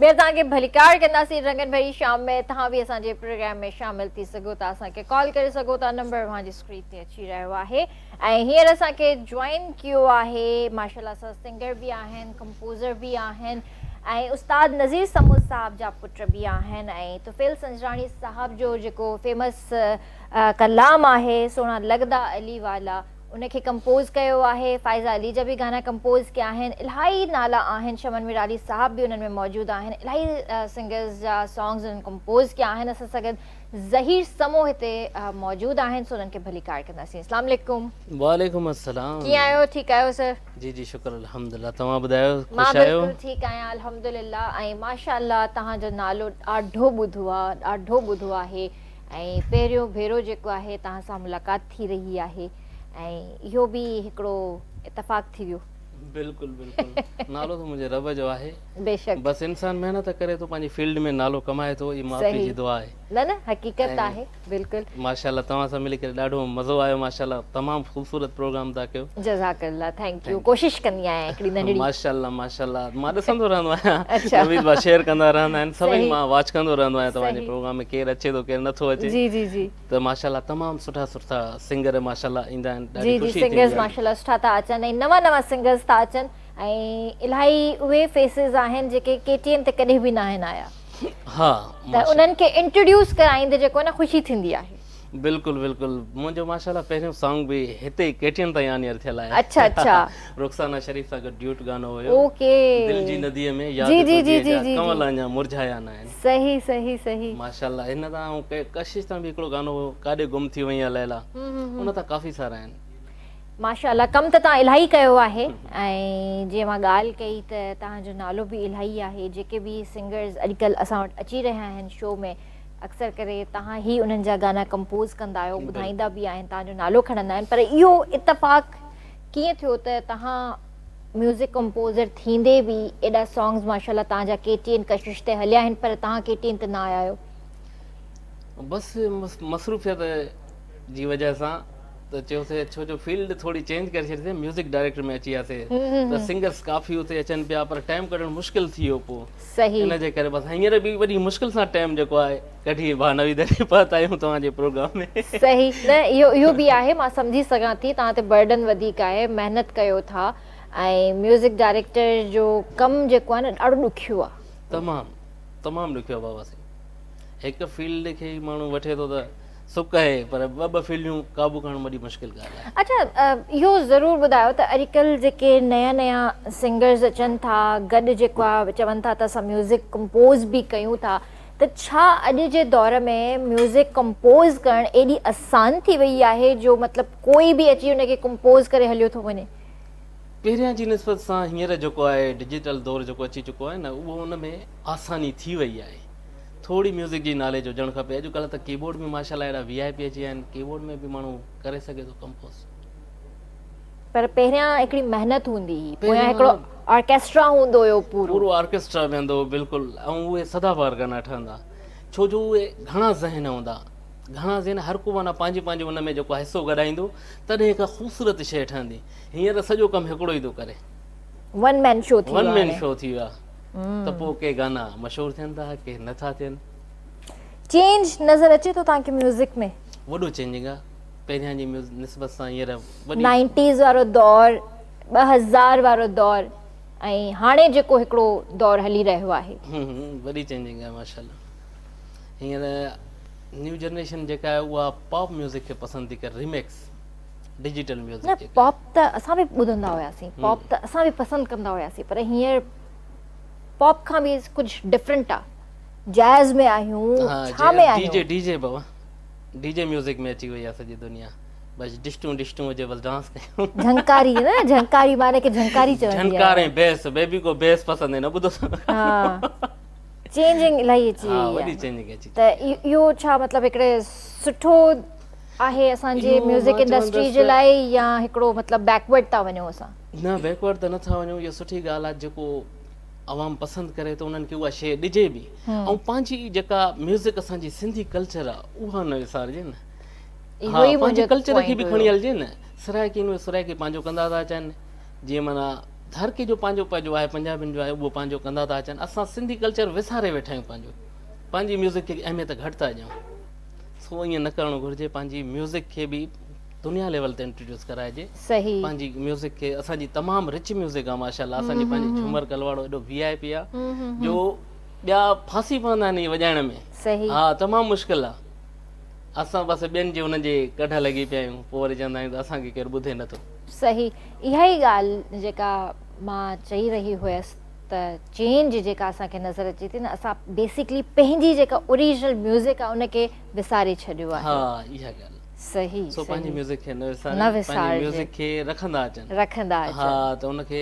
Speaker 1: ٻيهر توهان کي ڀليڪار ڪنداسين رنگن ڀري شام ۾ توهان به اسان جي پروگرام ۾ شامل ٿي سگهو ٿا اسان کي ڪال ڪري سگهو ٿا نمبر اوهان جي اسڪرين تي اچي رهيو آهي ۽ هينئر اسان کي جوائن ڪيو آهي ماشاءالله سا سنگر به آهن ڪمپوزر به آهن ۽ استاد نذير سمو صاحب جا پٽ به آهن ۽ طفيل سنجراڻي صاحب جو جيڪو فيمس ڪلام آهي سونا لڳدا علي والا ان کي ڪمپوز ڪيو آهي فائزه علي جا به گانا ڪمپوز ڪيا آهن الاهي نالا آهن شمن ميرالي صاحب به انهن ۾ موجود آهن الاهي سنگرز جا سانگز انهن ڪمپوز ڪيا آهن اسان سان گڏ ظهير سمو هتي موجود آهن سو انهن کي ڀلي ڪار ڪنداسين اسلام عليڪم وعليڪم السلام
Speaker 3: ڪيئن آهيو ٺيڪ آهيو
Speaker 1: سر جي جي شڪر الحمدلله
Speaker 3: توهان ٻڌايو خوش آهيو مان بلڪل ٺيڪ
Speaker 1: آهيان الحمدلله ۽ ماشاءالله توهان جو نالو ڏاڍو ٻڌو آهي ڏاڍو ٻڌو آهي ۽ پهريون ڀيرو جيڪو آهي توهان سان ملاقات ٿي رهي آهي ۽ اهو به هڪڙو اتفاق ٿي ويو. بلڪل بلڪل
Speaker 3: نالو ته منهنجي رب جو آهي بيشڪ بس انسان
Speaker 1: محنت
Speaker 3: ڪري ٿو پنهنجي فيلڊ ۾ نالو ڪمائي ٿو هي ماء پيء جي دعا آهي نه نه حقيقت
Speaker 1: آهي بلڪل ماشاءالله توهان سان ملي
Speaker 3: ڪري ڏاڍو مزو آيو ماشاءالله تمام خوبصورت پروگرام ٿا ڪيو جزاڪ الله ٿينڪ
Speaker 1: يو ڪوشش ڪندي آهيان هڪڙي ننڍڙي ماشاءالله ماشاءالله
Speaker 3: مان ڏسندو رهندو آهيان نويد ڀا شيئر ڪندا رهندا آهن سڀئي مان واچ ڪندو رهندو آهيان توهان جي پروگرام ۾ ڪير اچي ٿو ڪير نٿو اچي جي جي جي ته
Speaker 1: ماشاءالله تمام
Speaker 3: سٺا سٺا سنگر ماشاءالله ايندا آهن ڏاڍي خوشي ٿيندي آهي. جي جي سنگرز ماشاءالله
Speaker 1: سٺا ٿا اچن ۽ نوان نوان سنگرز ٿا اچن ۽ الائي اهي فيسز آهن جيڪي ڪي ٽي ايم تي ڪڏهن به ناهن آيا ها ته انهن کي انٽروڊيوس ڪرائيندي جيڪو آهي نه خوشي ٿيندي آهي.
Speaker 3: بلڪل بلڪل منهنجو ماشاءالله پهريون سانگ به هتي ئي ڪي ٽي ايم تان ئي آن ايئر ٿيل آهي اڇا اڇا
Speaker 1: رخسانه شريف
Speaker 3: سان گڏ ڊيوٽ گانو هيو اوڪي دل جي
Speaker 1: ندي
Speaker 3: ۾ ياد تنهنجي جا ڪنول
Speaker 1: اڃا
Speaker 3: مرجهايا ناهن. صحيح صحيح صحيح.
Speaker 1: ماشاءالله هن تان آئون
Speaker 3: ڪشش تان به هڪڙو گانو هو ڪاڏي گم ٿي وئين يا ليلا ان تان ڪافي سارا آهن. ماشاءالله
Speaker 1: ڪم ته تان الاهي ڪيو آهي ۽ جي اوهان ڳالهه ڪئي ته تان جو نالو به الاهي آهي جيڪي به سنگرز اڄڪلهه اسان وٽ اچي رهيا آهن شو ۾ اڪثر ڪري تان هي انهن جا گانا ڪمپوز ڪندا آهيو ٻڌائيندا به آهن تان جو نالو کڻندا آهن پر اهو اتفاق ڪيئن ٿيو ته تان ميوزڪ ڪمپوزر ٿيندي به ايڏا سانگز ماشاءالله توهان جا ڪي ٽي اين ڪشش تي هليا آهن پر توهان ڪي ٽي اين تي نه آيا آهيو.
Speaker 3: بس مصروفيت جي وجه سان ته چيوسي ڇو جو فيلڊ ٿوري چينج ڪري ڇڏي سين ميوزڪ ڊائريڪٽر ۾ اچي وياسي ته سنگرس ڪافي اتي اچن پيا پر ٽائيم ڪڍڻ مشڪل ٿي ويو پو ان جي ڪري بس
Speaker 1: هينئر
Speaker 3: به وڏي مشڪل سان ٽائيم جيڪو آهي ڪڍي اهي بهانا ويدا ڏيئي پات آهيون توهان جي پروگرام ۾. صحيح نه
Speaker 1: اهو به آهي مان سمجهي سگهان ٿي توهان تي برڊن وڌيڪ آهي محنت ڪيو ٿا ۽ ميوزڪ ڊائريڪٽر جو ڪم جيڪو آهي نه ڏاڍو ڏکيو آهي. تمام تمام
Speaker 3: ڏکيو آهي بابا سائين هڪ فيلڊ کي ئي ماڻهو وٺي ٿو ته سڪ آهي پر ٻه ٻه فيلڊيون قابو ڪرڻ وڏي مشڪل ڳالهه آهي. اچا اهو
Speaker 1: ضرور ٻڌايو ته اڄڪلهه جيڪي نيا نيا سنگرز اچن ٿا گڏ جيڪو آهي چون ٿا ته اسان ميوزڪ ڪمپوز به ڪيون ٿا ته ڇا اڄ جي دور ۾ ميوزڪ ڪمپوز ڪرڻ ايڏي آسان ٿي وئي آهي جو مطلب ڪوئي به اچي ان کي ڪمپوز ڪري هليو ٿو وڃي. پهريان جي
Speaker 3: نسبت سان هينئر جيڪو آهي ڊجيٽل دور جيڪو اچي چڪو آهي نه اهو ان ۾ آساني ٿي وئي آهي ٿورڙي ميوزڪ جي ناليج هجڻ کپي اڄ ڪلهه ته ڪيبورڊ ۾ ماشاء الله اهڙا وي آء پي اچي ويا آهن ڪيبورڊ ۾ به ماڻهو ڪري سگهي ٿو ڪمپوز. پر پهريان هڪڙي
Speaker 1: محنت هوندي هئي پويان هڪڙو آرڪيسٽرا هوندو هيو پورو. پورو آرڪيسٽرا
Speaker 3: ويهندو هو بلڪل ۽ اهي سدا بهار گانا ٺهندا ڇو جو اهي گهڻا ذهن هوندا گهڻا ذهن هر ڪو معنيٰ پنهنجي پنهنجي ان ۾ جيڪو آهي حصو گڏائيندو تڏهن هڪ خوبصورت شيء ٺهندي هينئر سڄو ڪم هڪڙو ئي ٿو ڪري ون مين
Speaker 1: شو ٿي ويو ون مين شو ٿي ويو آهي
Speaker 3: ته پوء ڪي گانا مشهور ٿين ٿا ڪي نه ٿا ٿين چينج
Speaker 1: نظر اچي ٿو توهان کي ميوزڪ ۾ وڏو چينجنگ آهي
Speaker 3: پهريان جي نسبت سان هينئر وڏي. نائنٽيز وارو
Speaker 1: دور، ٻه هزار وارو دور ۽ هاڻي جيڪو هڪڙو دور هلي رهيو آهي. وڏي چينجنگ
Speaker 3: آهي ماشاءالله. هينئر نيو جنريشن جيڪا آهي اها پاپ ميوزڪ کي پسند ٿي ڪري ريميڪس ڊجيٽل ميوزڪ جيڪا. پاپ ته اسان به
Speaker 1: ٻڌندا هياسين، پاپ ته اسان به پسند ڪندا هياسين پر هينئر پاپ کان به ڪجهه ڊفرنٽ آهي. جئز ۾ آهيون، ڇا ۾ آهيون. ڊي جي ڊي جي بابا.
Speaker 3: ڊي جي ميوزڪ ۾ اچي وئي آهي سڄي دنيا بس ڊشٽون ڊشٽون هجي بس ڊانس ڪيون جهنڪاري نه
Speaker 1: جهنڪاري معنی کي جهنڪاري چوندي آهي جهنڪار ۽ بيس بيبي
Speaker 3: ڪو بيس پسند هي نه ٻڌو ها
Speaker 1: چينجنگ الائي اچي وئي وڏي چينجنگ اچي ته
Speaker 3: اهو ڇا
Speaker 1: مطلب هڪڙي سٺو آهي اسان جي ميوزڪ انڊسٽري جي لاء يا هڪڙو مطلب بيڪورڊ ٿا وڃون اسان نه بيڪورڊ ته
Speaker 3: نٿا وڃون اهو سٺي ڳالهه آهي جيڪو عوام پسند ڪري ته انهن کي اها شيء ڏجي به ۽ پنهنجي جيڪا ميوزڪ اسان جي سنڌي ڪلچر آ اها نه وسارجي نه اهو ئي منهنجو پوائنٽ هيو ها پنهنجي ڪلچر کي به کڻي هلجي نه سرائڪي ۾ سرائڪي پنهنجو ڪندا ٿا اچن جيئن معنيٰ هر ڪنهن جو پنهنجو پنهنجو آهي پنجابين جو آهي اهو پنهنجو ڪندا ٿا اچن اسان سنڌي ڪلچر وساري ويٺا آهيون پنهنجو پنهنجي ميوزڪ کي اهميت گهٽ ٿا ڏيون سو ائين نه ڪرڻ گهرجي پنهنجي ميوزڪ کي به دنيا ليول تي انٽروڊيوس ڪرائجي پنهنجي
Speaker 1: ميوزڪ کي
Speaker 3: اسان جي تمام رچ ميوزڪ آ ماشاءالله اسان جي پنهنجي جهومر ڪلواڙو ايڏو وي آء پي آ جو ٻيا ڦاسي پوندا آهن هي وڄائڻ ۾ ها تمام
Speaker 1: مشڪل آ
Speaker 3: اسان بس ٻين جي هن جي ڪڍ لڳي پيا آهيون پوء وري چوندا آهيون ته اسان کي ڪير ٻڌي نه ٿو صحيح اها
Speaker 1: ئي ڳالهه جيڪا مان چئي رهي هيس ته چينج جيڪا اسان کي نظر اچي ٿي نه اسان بيسڪلي پنهنجي جيڪا اوريجنل ميوزڪ آ ان کي وساري ڇڏيو آهي ها اها ڳالهه
Speaker 3: صحيح سو پنهنجي
Speaker 1: صحيح ميوزڪ کي
Speaker 3: نه وسارين نه پنهنجي وسارجي ميوزڪ کي رکندا اچن رکندا ها اچن ته ان کي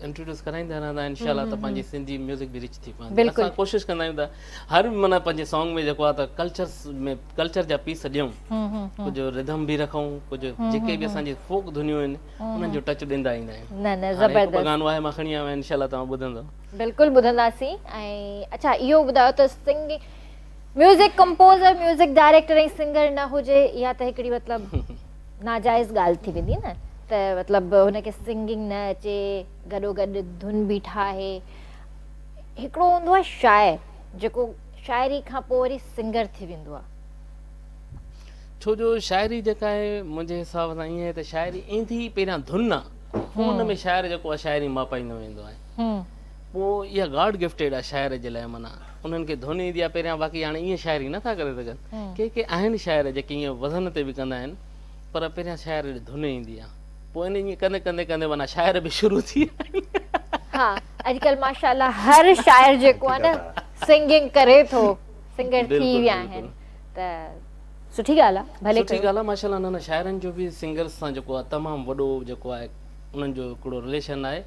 Speaker 3: انٽروڊيوس ڪرائيندا رهندا آهن انشاء الله ته پنهنجي سنڌي ميوزڪ به رچ ٿي پوندي بلڪل اسان ڪوشش ڪندا آهيون ته هر معنيٰ پنهنجي سانگ ۾ جيڪو آهي ته ڪلچرس ۾ ڪلچر جا پيس ڏيون هون هون هون ڪجهه رڌم به رکون ڪجهه هون جيڪي هون به اسان هون جي فوڪ ڌنيون آهن هون انهن هون جو ٽچ ڏيندا ايندا آهيون نه نه هاڻي هڪ ٻه زبردست گانو
Speaker 1: آهي مان کڻي آيو آهيان
Speaker 3: انشاء الله توهان ٻڌندؤ بلڪل ٻڌنداسين
Speaker 1: ۽ اڇا اهو ٻڌايو ته singing music composer music director ۽ singer نه هجي اها ته هڪڙي مطلب ناجائز ڳالهه ٿي ويندي نه ته مطلب هن کي سنگنگ نه اچي گڏو گڏ ڌن به ٺاهي هڪڙو هوندو آهي شاعر جيڪو شاعري کان پوء وري سنگر ٿي ويندو آهي
Speaker 3: ڇو جو شاعري جيڪا آهي منهنجي حساب سان ائين آهي ته شاعري ايندي پهريان ڌن آهي پوء ان ۾ شاعر جيڪو آهي شاعري ماپائيندو ويندو آهي پوء اها گاڊ گفٽيڊ آ شاعر جي لاء معنيٰ انهن کي ڌن ايندي آ پهريان باقي هاڻي ائين شاعري نه ٿا ڪري سگهن ڪي ڪي آهن شاعر جيڪي ائين وزن تي به ڪندا آهن پر پهريان شاعر جي ڌن ايندي آ پوء ان ائين ڪندي ڪندي ڪندي معنيٰ شاعر به شروع ٿي ويا آهن ها
Speaker 1: اڄڪلهه ماشاء الله هر شاعر جيڪو آ نه سنگنگ ڪري ٿو سنگر ٿي ويا آهن ته سٺي ڳالهه آ ڀلي ڪيو سٺي ڳالهه آ ماشاء الله نه نه
Speaker 3: شاعرن جو به سنگرز سان جيڪو آ تمام وڏو جيڪو آ انهن جو هڪڙو رليشن آهي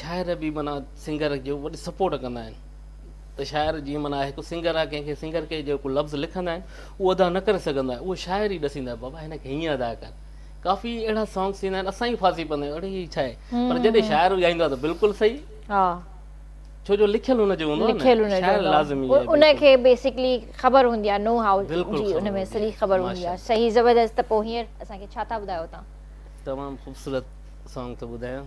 Speaker 3: شاعر به معنيٰ سنگر جو وڏي سپورٽ ڪندا آهن ته شاعر جيئن معنيٰ هڪ سنگر آهي ڪنهن کي سنگر کي جيڪو لفظ لکندا آهن اهو ادا نه ڪري سگهندا آهن اهو شاعر ئي ڏسيندا آهن بابا هن کي هيئن ادا ڪر ڪافي اهڙا سانگس ٿيندا آهن اسان ئي ڦاسي پوندا آهيون اڙي هي ڇا آهي پر جڏهن شاعر ڳائيندو آهي ته بلڪل صحيح
Speaker 1: ها ڇو جو
Speaker 3: لکيل هن جو هوندو آهي نه شاعر لازمي آهي ان کي بيسڪلي
Speaker 1: خبر هوندي آهي نو هاء جي ان ۾ سڄي
Speaker 3: خبر
Speaker 1: هوندي آهي صحيح زبردست ته پوء هينئر اسان کي ڇا ٿا ٻڌايو تان تمام خوبصورت
Speaker 3: سانگ ٿو ٻڌايان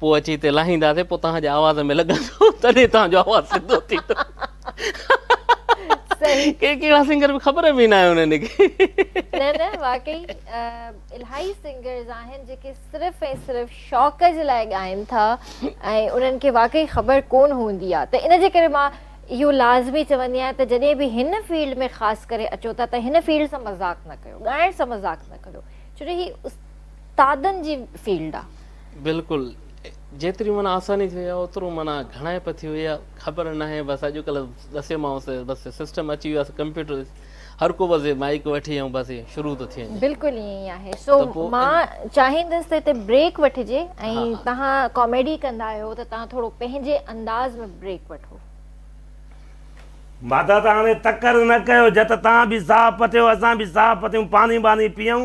Speaker 3: پوء اچي هتي لاهينداسين، پوء توهان جي آواز ۾ لڳندو، تڏهن توهان جو آواز سڌو ٿيندو.
Speaker 1: صحيح. ڪي ڪهڙا سنگر به خبر
Speaker 3: به ئي ناهي انهن کي. نه نه
Speaker 1: واقعي الاهي سنگرز آهن جيڪي صرف ۽ صرف شوق جي لاء ڳائين ٿا ۽ انهن کي واقعي خبر ڪون هوندي آهي ته ان جي ڪري مان اهو لازمي چوندي آهيان ته جڏهن به هن فيلڊ ۾ خاص ڪري اچو ٿا ته هن فيلڊ سان مذاق نه ڪيو ڳائڻ سان مذاق نه ڪريو ڇو جو هي استادن جي فيلڊ آهي بلڪل
Speaker 3: جيتري معنيٰ آساني ٿي وئي آ اوترو معنيٰ گهڻائي به ٿي وئي آ خبر ناهي بس اڄ ڪلهه ڏسيومانس بس سسٽم اچي ويو آ ڪمپيوٽر هر ڪو بس مائيڪ وٺي ۽ بس شروع ٿو ٿي وڃي بلڪل ائين ئي آهي
Speaker 1: سو مان چاهيندس ته هتي بريڪ وٺجي ۽ تهان ڪاميڊي ڪندا آهيو ته تهان ٿورو پنهنجي انداز ۾ بريڪ وٺو.
Speaker 2: مادادا هاڻي تڪر نه ڪيو جت تهان به ساهه پٽيو اسان به ساهه پٽيون پاڻي ٻاڻي پيئون.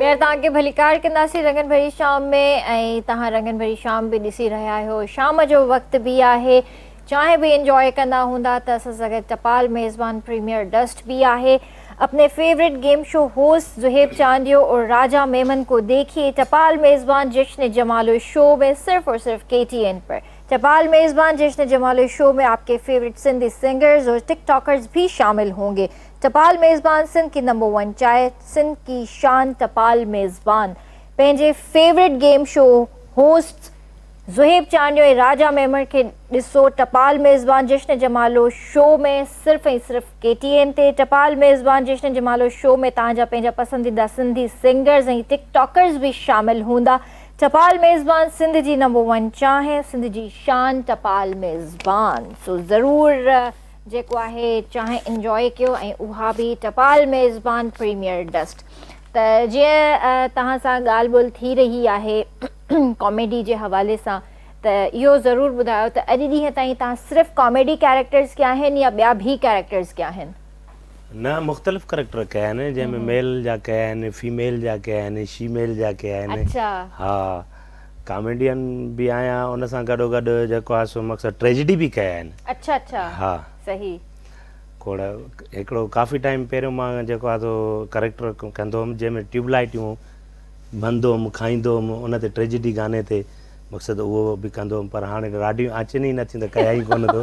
Speaker 1: ٻيهر توهان کي ڀليڪار ڪنداسين رنگن ڀري شام ۾ ۽ توهان رنگن ڀري شام به ڏسي رهيا آهيو شام جو وقت به آهي چانهه به انجوء ڪندا هوندا ته اسان سان گڏ ٽپال ميزبان پريميئر ڊسٽ به آهي اپني favourite game show host Zohaib Chandio اور راجا ميمن ڪو ديکيي ٽپال ميزبان جشن جمالو شو ۾ صرف اور صرف ڪي ٽي اين پر ٽپال ميزبان جشن جمالو شو ۾ آپ ڪي فيوريٽ سنڌي سنگرز اور ٽڪ ٽاڪرز به شامل هونگي ٽپال ميزبان سنڌ ڪي نمبر ون چائي سنڌ ڪي شان ٽپال ميزبان پنهنجي favourite game show host Zohaib Chandio ۽ Raja Memon کي ڏسو ٽپال ميزبان جشن جمالو شو ۾ صرف ۽ صرف ڪي ٽي اين تي ٽپال ميزبان جشن جمالو شو ۾ توهان جا پنهنجا پسنديده سنڌي سنگرز ۽ ٽڪ ٽاڪرز به شامل هوندا ٽپال ميزبان سنڌ جي نمبر ون چانهه سنڌ جي شان ٽپال ميزبان سو ضرور جيڪو آهي چانهه انجواء ڪيو ۽ اها به ٽپال ميزبان پريميئر ڊسٽ ته جيئن توهان سان ڳالهه ٻولهه ٿي رهي آهي ڪاميڊي جي حوالي سان ته اهو ضرور ٻڌايو ته اڄ ڏينهن تائين توهان صرف ڪاميڊي ڪيريڪٽرز ڪيا آهن يا ٻيا ڀي ڪيريڪٽرز ڪيا آهن؟ نه
Speaker 2: مختلف ڪريڪٽر ڪيا آهن جنهن ۾ ميل جا ڪيا آهن فيميل جا ڪيا آهن شيميل جا ڪيا آهن اچا ها ڪاميڊين به آهيان ان سان گڏو گڏ جيڪو آهي سو مڪسر ٽريجڊي به ڪيا آهن. اڇا اڇا ها
Speaker 1: صحيح. کوڙ
Speaker 2: هڪڙو ڪافي ٽائيم پهريون مان جيڪو آهي سو ڪريڪٽر ڪندو هوم جنهن ۾ ٽيوب لائيٽيون بند هوم کائيندو هوم ان تي ٽريجڊي گاني تي مقصد اهو به ڪندو هوم پر هاڻي راڊيون آچين ئي نه ٿيون ته ڪيا ئي ڪونه ٿو.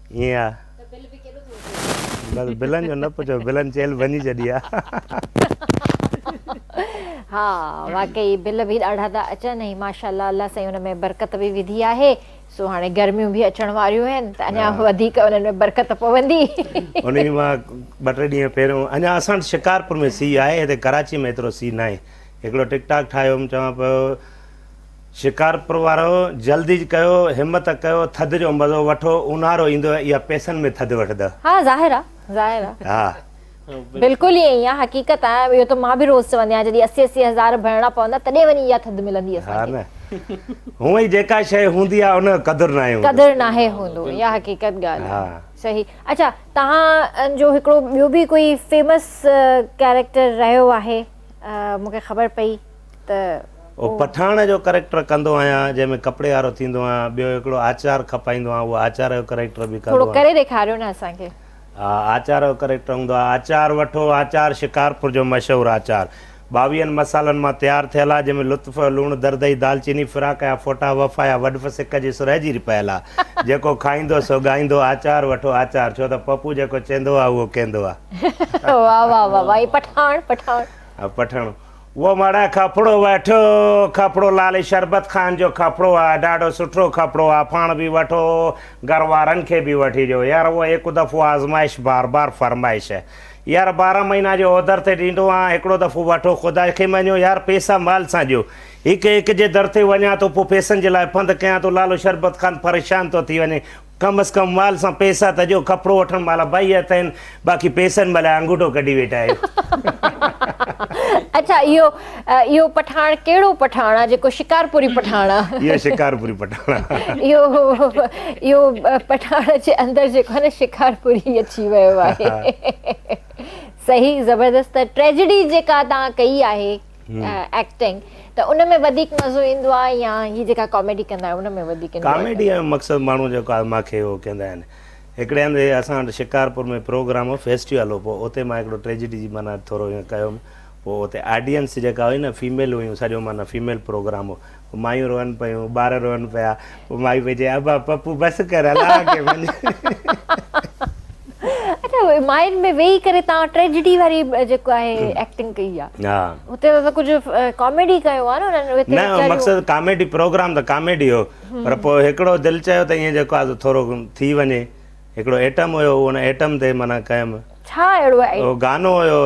Speaker 2: ائين آ ته بل به ڪيڏو ٿو اچي. بس بلن جو نه پڇو بلن چيل ڀڃي ڇڏي آ.
Speaker 1: ها واقعي بل به ڏاڍا ٿا اچن ۽ ماشاءالله الله سائين ان ۾ برڪت به وڌي آهي سو هاڻي گرميون به اچڻ واريون آهن ته اڃا وڌيڪ انهن ۾ برڪت پوندي. ان جي مان
Speaker 2: ٻه ٽي ڏينهن پهريون اڃا اسان وٽ شڪارپور ۾ سي آهي هتي ڪراچي ۾ ايترو سي ناهي هڪڙو ٽڪ ٽاڪ ٺاهيو هوم چوان پيو شڪارپور وارو جلد ئي ڪيو همت ڪيو ٿڌ جو مزو وٺو اونهارو ايندو اها پئسن ۾ ٿڌ وٺدئ. ها ظاهر آ
Speaker 1: ظاهر آ ها
Speaker 2: بلڪل
Speaker 1: ائين ئي آ حقيقت آ اهو ته مان به روز چوندي آهيان جڏهن اسي اسي هزار ڀرڻا پوندا تڏهن وڃي اها ٿڌ ملندي اسان کي. ها نه
Speaker 2: هونئن ئي جيڪا شيء هوندي آ ان جو قدر ناهي هوندو. قدر ناهي هوندو
Speaker 1: اها حقيقت ڳالهه آ صحيح اڇا توهان جو هڪڙو ٻيو به ڪوئي فيمس ڪيريڪٽر رهيو آهي مونکي خبر پئي. ته او پٺاڻ جو
Speaker 2: ڪريڪٽر ڪندو آهيان جنهن ۾ ڪپڙي وارو ٿيندو آهيان ٻيو هڪڙو آچار کپائيندو آهيان اهو آچار جو ڪريڪٽر به ڪندو آهيان ٿورو ڪري ڏيکاريو نه اسان
Speaker 1: کي ها آچار
Speaker 2: جو ڪريڪٽر هوندو آهي آچار وٺو آچار شڪارپور جو مشهور آچار ٻاويهن مصالحن مان تيار ٿيل آهي جنهن ۾ لطف جو لوڻ دردئي دالچيني فراق جا ڦوٽا وفا جا وڏف سڪ جي سرهه جيري پيل آهي جيڪو کائيندو سو ڳائيندو آچار وٺو آچار ڇو ته پپو جيڪو چيندو آهي اهو ڪيندو آهي واهه واهه واهه
Speaker 1: واهه پٺاڻ پٺاڻ پٺاڻ
Speaker 2: وو مڙا کپڙو وٺو کپڙو لالي شربت خان جو کپڙو آ ڏاڍو سٺو کپڙو آ پاڻ به وٺو گهر وارن کي به وٺي ڏيو يار وو هڪ دفعو آزمائش بار بار فرمائش يار بارهن مهينا جو اوڌر تي ڏيندو آهان هڪڙو دفعو وٺو خدا کي مڃو يار پيسا مال سان ڏيو هڪ هڪ جي در تي وڃان ٿو پو پيسن جي لاء پنڌ ڪيان ٿو لالو شربت خان پريشان ٿو ٿي وڃي ڪم از ڪم مال سان پيسا ته ڏيو، ڪپڙو وٺڻ مھل ٻئي ھٿ آھن، باقي پيسن مھل آڱوٺو ڪڍي ويٺا آھيو. اچا
Speaker 1: اھو اھو پٺاڻ ڪھڙو پٺاڻ آ جيڪو شڪارپوري پٺاڻ آ. اھو شڪارپوري پٺاڻ
Speaker 2: آ. اھو اھو
Speaker 1: پٺاڻ جي اندر جيڪو آ نه شڪارپوري اچي ويو آھي. صحيح زبردست ٽريجڊي جيڪا توھان ڪئي آھي. ايڪٽنگ ته ان ۾ وڌيڪ مزو ايندو آهي يا هي جيڪا ڪاميڊي ڪندا آهيو ان ۾ وڌيڪ ايندو آهي ڪاميڊي جو مقصد
Speaker 2: ماڻهو جيڪو آهي ماکي اهو ڪندا آهن هڪڙي هنڌ اسان وٽ شڪارپور ۾ پروگرام هو فيسٽيول هو پوء اتي مان هڪڙو ٽريجڊي جي معنيٰ ٿورو هيئن ڪيو هوم پوء اتي آڊينس جيڪا هئي نه فيميل هيون سڄو معنيٰ فيميل پروگرام هو مايون روئن پيون، ٻار روئن پيا، پوء مائي پئي چئي ابا پپو بس ڪر هلان اڳي وڃ.
Speaker 1: اچا ماين ۾ ويهي ڪري تان ٽريجڊي واري جيڪو آهي ايڪٽنگ ڪئي آ ها هتي ته ڪجهه ڪاميڊي ڪيو آ نه انهن هتي نه ويچاريون مقصد ڪاميڊي
Speaker 2: پروگرام ته ڪاميڊي هو پر پوء هڪڙو دل چيو ته ائين جيڪو آ سو ٿورو ٿي وڃي هڪڙو ايٽم هيو ان ايٽم تي معنيٰ قائم. ڇا اهڙو ايٽم. اهو
Speaker 1: گانو هيو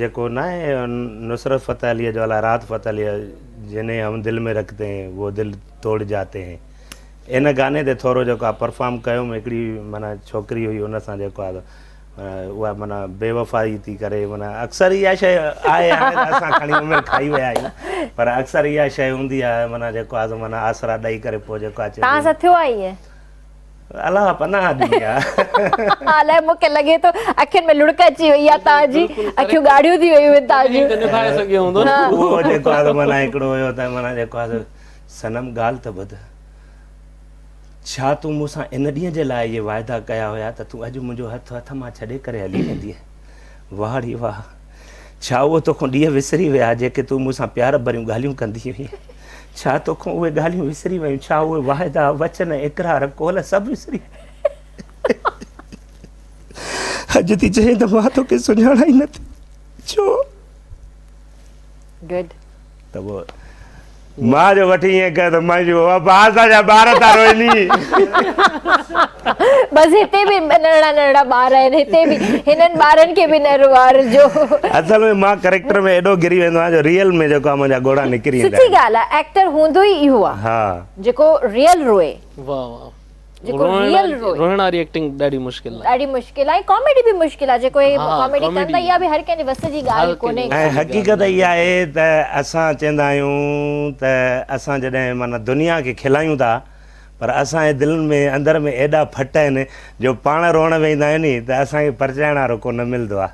Speaker 2: جيڪو ناهي نصرت فتح عليء جو الا رات فتح عليء جنهين هم دل ۾ رکتي هين وو دل توڙ جاتي هين ان گاني تي ٿورو جيڪو آء پرفارم ڪيوم هڪڙي معنيٰ ڇوڪري هئي ان سان جيڪو آء اها معنيٰ بي وفائي ٿي ڪري معنيٰ اڪثر اها شيء آهي هاڻي ته اسان کڻي عمر کائي ويا آهيون پر اڪثر اها شيء هوندي آهي معنيٰ
Speaker 1: جيڪو
Speaker 2: آء معنيٰ آسرا ڏئي ڪري پوء جيڪو آء چئبو. توهان سان ٿيو
Speaker 1: آهي
Speaker 2: ائين. الله پناهه ڏني آ. الائي مون کي لڳي
Speaker 1: ٿو اکين ۾ لڙڪ اچي وئي آ تان جي اکيون ڳاڙهيون ٿي ويون آهن تان جون. نڀائي سگهيو هوندو
Speaker 3: نه. اهو جيڪو آ معنيٰ
Speaker 2: هڪڙو هيو ته معنيٰ جيڪو آ صنم ڳالهه ته ٻڌ. ڇا تون مون سان ان ڏينهن جي لاء اهي واعدا ڪيا هيا ته تون اڄ منهنجو هٿ هٿ مان ڇڏي ڪري هلي ويندينء. واهڙي واهه. ڇا اهي توکون ڏينهن وسري ويا جيڪي تون مون سان پيار ڀريون ڳالهيون ڪندي هئين؟ ڇا توکون اهي ڳالهيون وسري ويون؟ ڇا اهي واعدا، وچن، اقرار، قول سڀ وسري اڄ ٿي چئين ته مان توکي سڃاڻان ئي نه ٿي ڇو؟
Speaker 1: Good. ته پوء
Speaker 2: ماء جو وٺي ائين ڪيو ته مائي چيو بابا بار اسان جا ٻار ٿا روئني.
Speaker 1: بس هتي به ننڍڙا ننڍڙا ٻار آهن هتي به هنن ٻارن کي به نه روئارجو. اصل ۾ مان
Speaker 2: ڪريڪٽر ۾ ايڏو گري ويندو آهيان جو ريئل ۾ جيڪو آهي منهنجا ڳوڙها نڪري ايندا آهن. سٺي ڳالهه آهي ايڪٽر
Speaker 1: هوندو ئي اهو آهي جيڪو
Speaker 2: ريئل
Speaker 1: روئي. واهه واهه.
Speaker 3: جيڪو ريئل
Speaker 1: روئي روئڻ واري ايڪٽنگ ڏاڍي
Speaker 3: مشڪل آهي ڏاڍي مشڪل آهي ڪاميڊي
Speaker 1: به مشڪل آهي جيڪو هي ڪاميڊي ڪن ته اها به
Speaker 3: هر ڪنهن
Speaker 1: جي وس جي ڳالهه ڪونهي ۽ حقيقت اها
Speaker 2: آهي ته اسان چوندا آهيون ته اسان جڏهن معنيٰ دنيا کي کلايون ٿا پر اسان جي دلن ۾ اندر ۾ ايڏا ڦٽ آهن جو پاڻ روئڻ ويهندا آهيون ني ته اسان کي پرچائڻ وارو ڪو نه ملندو آهي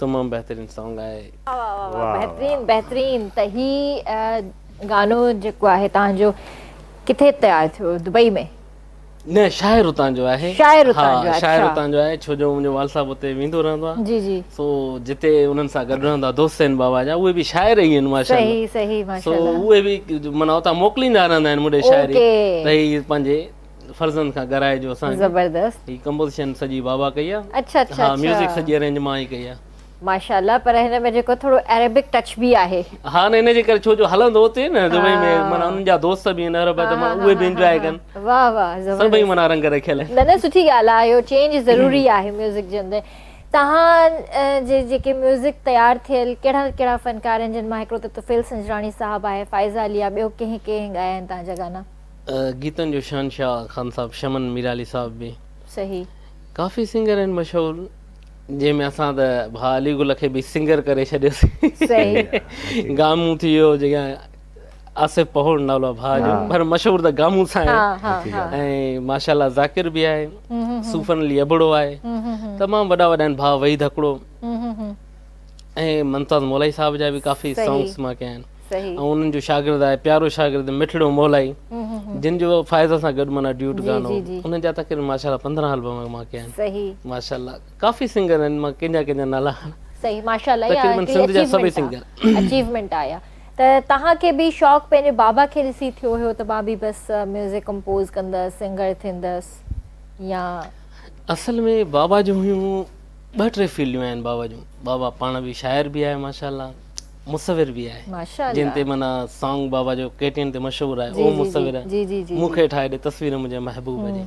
Speaker 3: تمام بهترين سانگ آهي. واه واه واه بهترين
Speaker 1: بهترين ته هي گانو جيڪو آهي تهان جو ڪٿي تيار ٿيو دبئي ۾. نه شاعر
Speaker 3: اتان جو آهي شاعر اتان جو آهي شاعر
Speaker 1: اتان جو آهي ڇو جو منهنجو
Speaker 3: والد صاحب اتي ويندو رهندو آهي جي جي سو
Speaker 1: جتي
Speaker 3: انهن سان گڏ رهندو آهي دوست آهن بابا جا اهي به شاعر ئي آهن ماشاءالله صحيح صحيح ماشاءالله سو
Speaker 1: اهي به معنيٰ
Speaker 3: اتان موڪليندا رهندا آهن مون ڏي شاعري ته هي پنهنجي فرزند کان ڳرائي جو اسان کي زبردست هي ڪمپوزيشن سڄي بابا ڪئي آ اڇا اڇا ها ميوزڪ
Speaker 1: سڄي ارينج
Speaker 3: مان ئي ڪئي آ. ماشاءالله پر
Speaker 1: هن ۾ جيڪو ٿورو عربڪ ٽچ به آهي. ها نه ان جي ڪري
Speaker 3: ڇو جو هلندو اتي نه دبئي ۾ معنيٰ انهن جا دوست به آهن عرب ته معنيٰ اهي به انجواء ڪن واه واه زبردست سڀئي
Speaker 1: معنيٰ رنگ رکيل
Speaker 3: آهن نه نه سٺي ڳالهه آهي اهو
Speaker 1: چينج ضروري آهي ميوزڪ جي اندر توهان جي جيڪي ميوزڪ تيار ٿيل ڪهڙا ڪهڙا فنڪار آهن جن مان هڪڙو ته طفيل سنجراڻي صاحب آهي فائزه علي آ ٻيو ڪنهن ڪنهن ڳايا آهن توهان جا گانا. گيتن جو
Speaker 3: شهنشاهه خان صاحب شمن ميرعلي صاحب به صحيح
Speaker 1: ڪافي سنگر
Speaker 3: آهن مشهور جنهن ۾ اسان ته ڀاء علي گل کي به سنگر ڪري ڇڏيوسين
Speaker 1: گامون ٿي ويو
Speaker 3: جيڪا آصف پهوڙ نالو ڀاء جو پر مشهور ته گامون سان آهي ۽ ماشاءالله ذاڪر به آهي صوفن علي ابڙو آهي تمام وڏا وڏا آهن ڀاء وحيد هڪڙو ۽ ممتاز مولائي صاحب جا به ڪافي سانگس مان ڪيا آهن صحيح. ۽ انهن جو شاگرد آهي پيارو شاگرد مٺڙو مولائي جن جو فائزه سان گڏ معنيٰ ڊيوٽ گانو جي جي. انهن جا تقريبن ماشاءالله پندرهن البم مان ڪيا آهن صحيح. ماشاءالله ڪافي سنگر آهن مان ڪنهن جا ڪنهن جا نالا کڻان صحيح ماشاءالله
Speaker 1: اها تقريبن هڪڙي سنڌ جا سڀئي اچيومينٽ
Speaker 3: سنگر آهي اچيومينٽ آهي اها
Speaker 1: ته توهان کي به شوق پنهنجي بابا کي ڏسي ٿيو هيو ته مان به بس ميوزڪ ڪمپوز ڪندس سنگر ٿيندس يا اصل ۾ بابا جون
Speaker 3: هيون ٻه ٽي فيلڊون آهن بابا جون بابا پاڻ به شاعر به آهي ماشاءالله مصور به آهي جنهن تي معنيٰ
Speaker 1: سانگ
Speaker 3: بابا جو ڪي ٽي اين تي مشهور آهي اهو مصور مون کي ٺاهي ڏي
Speaker 1: تصوير
Speaker 3: منهنجي محبوب جي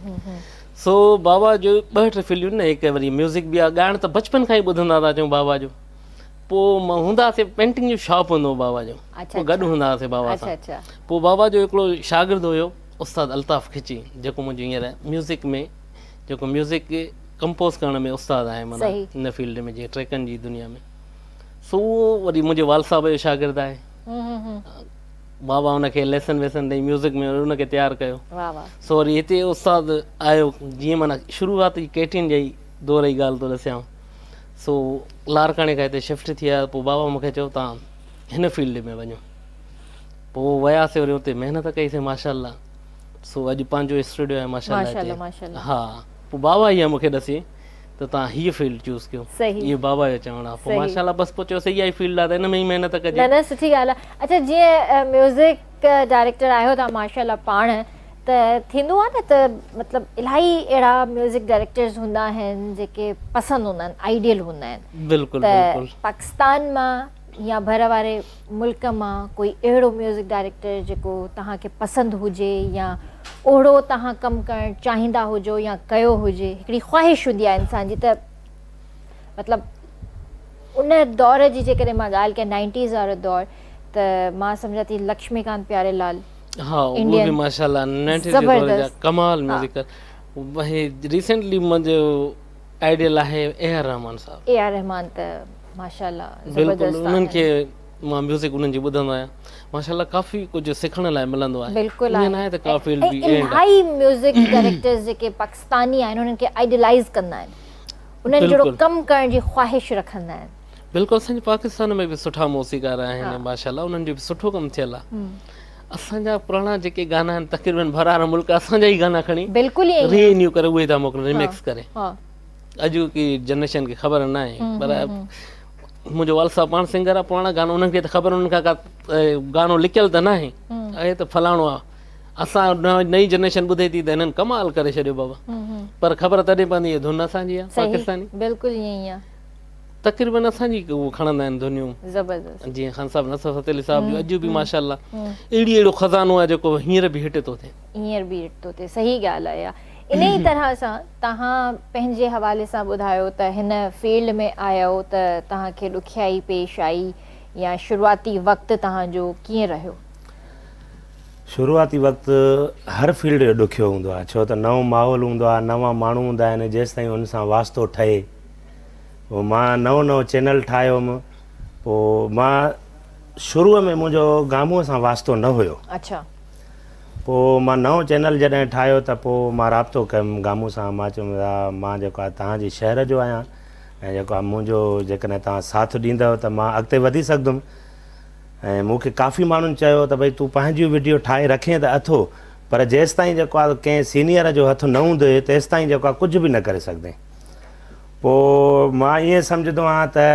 Speaker 3: سو بابا جو ٻه ٽي فلميون نه هڪ وري ميوزڪ به آهي ڳائڻ ته بچپن کان ئي ٻڌندا ٿا اچون بابا جو پوء هوندا سي پينٽنگ جو شاپ هوندو هو بابا جو پوء گڏ هوندا هئاسي بابا سان پوء بابا جو هڪڙو شاگرد هيو استاد الطاف کچي جيڪو منهنجو هينئر ميوزڪ ۾ جيڪو ميوزڪ ڪمپوز ڪرڻ ۾ استاد آهي معنيٰ ان فيلڊ ۾ جي ٽريڪن جي دنيا ۾ سو اهو وري منهنجي والد صاحب جو شاگرد آهي بابا ان کي ليسن ويسن ڏيئي ميوزڪ ۾ ان کي تيار ڪيو سو وري هتي استاد آيو جيئن مانا شروعات جي ڪيٽين جي دور جي ڳالهه ٿو ڏسيان سو لارڪاڻي کان هتي شفٽ ٿي آيا پوء بابا مونکي چيو تان هن فيلڊ ۾ وڃو پوء وياسي وري اتي محنت ڪئي سي ماشاء الله سو اڄ پنهنجو اسٽوڊيو آهي ماشاء الله ها پوء بابا هي مونکي ڏسي ته توهان هيء فيلڊ چوز ڪيو اهو بابا جو چوڻ آهي پوء ماشا الله بس پوء چيو سهي اها ئي فيلڊ آهي ته ان ۾ ئي محنت ڪجي. نه نه سٺي ڳالهه آهي
Speaker 1: اڇا جيئن ميوزڪ ڊائريڪٽر آهيو توهان ماشا الله پاڻ ته ٿيندو آهي نه ته مطلب الاهي اهڙا ميوزڪ ڊائريڪٽرز هوندا آهن جيڪي پسند هوندا آهن آئيڊيل هوندا آهن بلڪل بلڪل ته
Speaker 3: پاڪستان مان
Speaker 1: يا ڀر واري ملڪ مان ڪوئي اهڙو ميوزڪ ڊائريڪٽر جيڪو توهان کي پسند هجي يا اوهڙو توهان ڪم ڪرڻ چاهيندا هجو يا ڪيو هجي هڪڙي خواهش هوندي آهي انسان جي ته مطلب ان دور جي جيڪڏهن مان ڳالهه ڪيان نائنٽيز وارو دور ته مان سمجهان ٿي لڪشمي ڪانت پياري لال ها اهو به
Speaker 3: ماشاءالله نائنٽيز جي دور جا ڪمال ميوزڪ ۽ ريسنٽلي منهنجو آئيڊيل آهي اي آر رحمان صاحب. اي آر رحمان ته ماشاءالله زبردست آهن.
Speaker 1: بلڪل انهن کي
Speaker 3: مان ميوزڪ انهن جي ٻڌندو آهيان ماشاءالله ڪافي ڪجهه سکڻ لاء ملندو آهي ايئن ناهي ته ڪا
Speaker 1: فيلڊ بي
Speaker 3: اينڊ آهي. الائي ميوزڪ
Speaker 1: ڊائريڪٽرز جيڪي پاڪستاني آهن انهن کي آئيڊيلائيز ڪندا آهن انهن جهڙو ڪم ڪرڻ جي خواهش رکندا آهن. بلڪل اسان جي پاڪستان
Speaker 3: ۾ به سٺا موسيقار آهن ماشاءالله انهن جو به سٺو ڪم ٿيل آهي اسان جا پراڻا جيڪي گانا آهن تقريبن ڀرار ملڪ اسان جا ئي گانا کڻي بلڪل ائين ري نيو ڪري
Speaker 1: اهي ٿا
Speaker 3: موڪلن ريميڪس ڪري اڄوڪي جنريشن کي خبر نه آهي پر منهنجو والد صاحب پاڻ سنگر آهي پراڻا گانا انهن کي ته خبر انهن کان ڪا گانو لڪيل ته نه آهي اهي ته فلاڻو آهي اسان نئين جنريشن ٻڌي ٿي ته هنن ڪمال ڪري ڇڏيو بابا پر خبر تڏهن پوندي هي ڌن اسان جي آهي پاڪستاني بلڪل ائين آهي
Speaker 1: تقريبن
Speaker 3: اسان جي هو کڻندا آهن ڌنيون زبردست جيئن خان
Speaker 1: صاحب نصرت
Speaker 3: فتح علي صاحب جو اڄ به ماشاءالله اهڙي اهڙو خزانو آهي جيڪو هينئر به هٽ ٿو ٿئي هينئر به هٽ ٿو ٿئي
Speaker 1: صحيح ڳالهه آهي اها انهي طرح سان تهان پنهنجي حوالي سان ٻڌايو ته هن فيلڊ ۾ آيو ته تهان کي ڏکيائي پيش آئي يا شروعاتي وقت تهان جو ڪيئن رهيو؟
Speaker 2: شروعاتي وقت هر فيلڊ جو ڏکيو هوندو آهي ڇو ته نئون ماحول هوندو آهي نوان ماڻهو هوندا آهن جيستائين ان سان واسطو ٺهي پوء مان نئون نئون چينل ٺاهيو هوم پوء مان شروع ۾ منهنجو گامون سان واسطو نه هيو اڇا
Speaker 1: پوء
Speaker 2: مان نئون چينل جڏهن ٺاهيو ته پوء مان رابطو ڪيم گامون سان مان چيم يا مان جيڪو آهي توهان جي شهر جو آهيان ۽ جيڪو آهي منهنجو جيڪڏهن توهان ساٿ ڏيندؤ ته مان اڳتي وڌي سگهندم ۽ مون کي ڪافي ماڻهن چيو ته ڀئي تون پنهنجيون وڊيو ٺاهي رکين ته اٿو پر جيستائين جيڪو آهي ڪنهن سينيئر جو هٿ نه هوندي تيستائين جيڪو آهي ڪجهه به نه ڪري سگهندين پوء مان ائين سمجهندو آهيان ته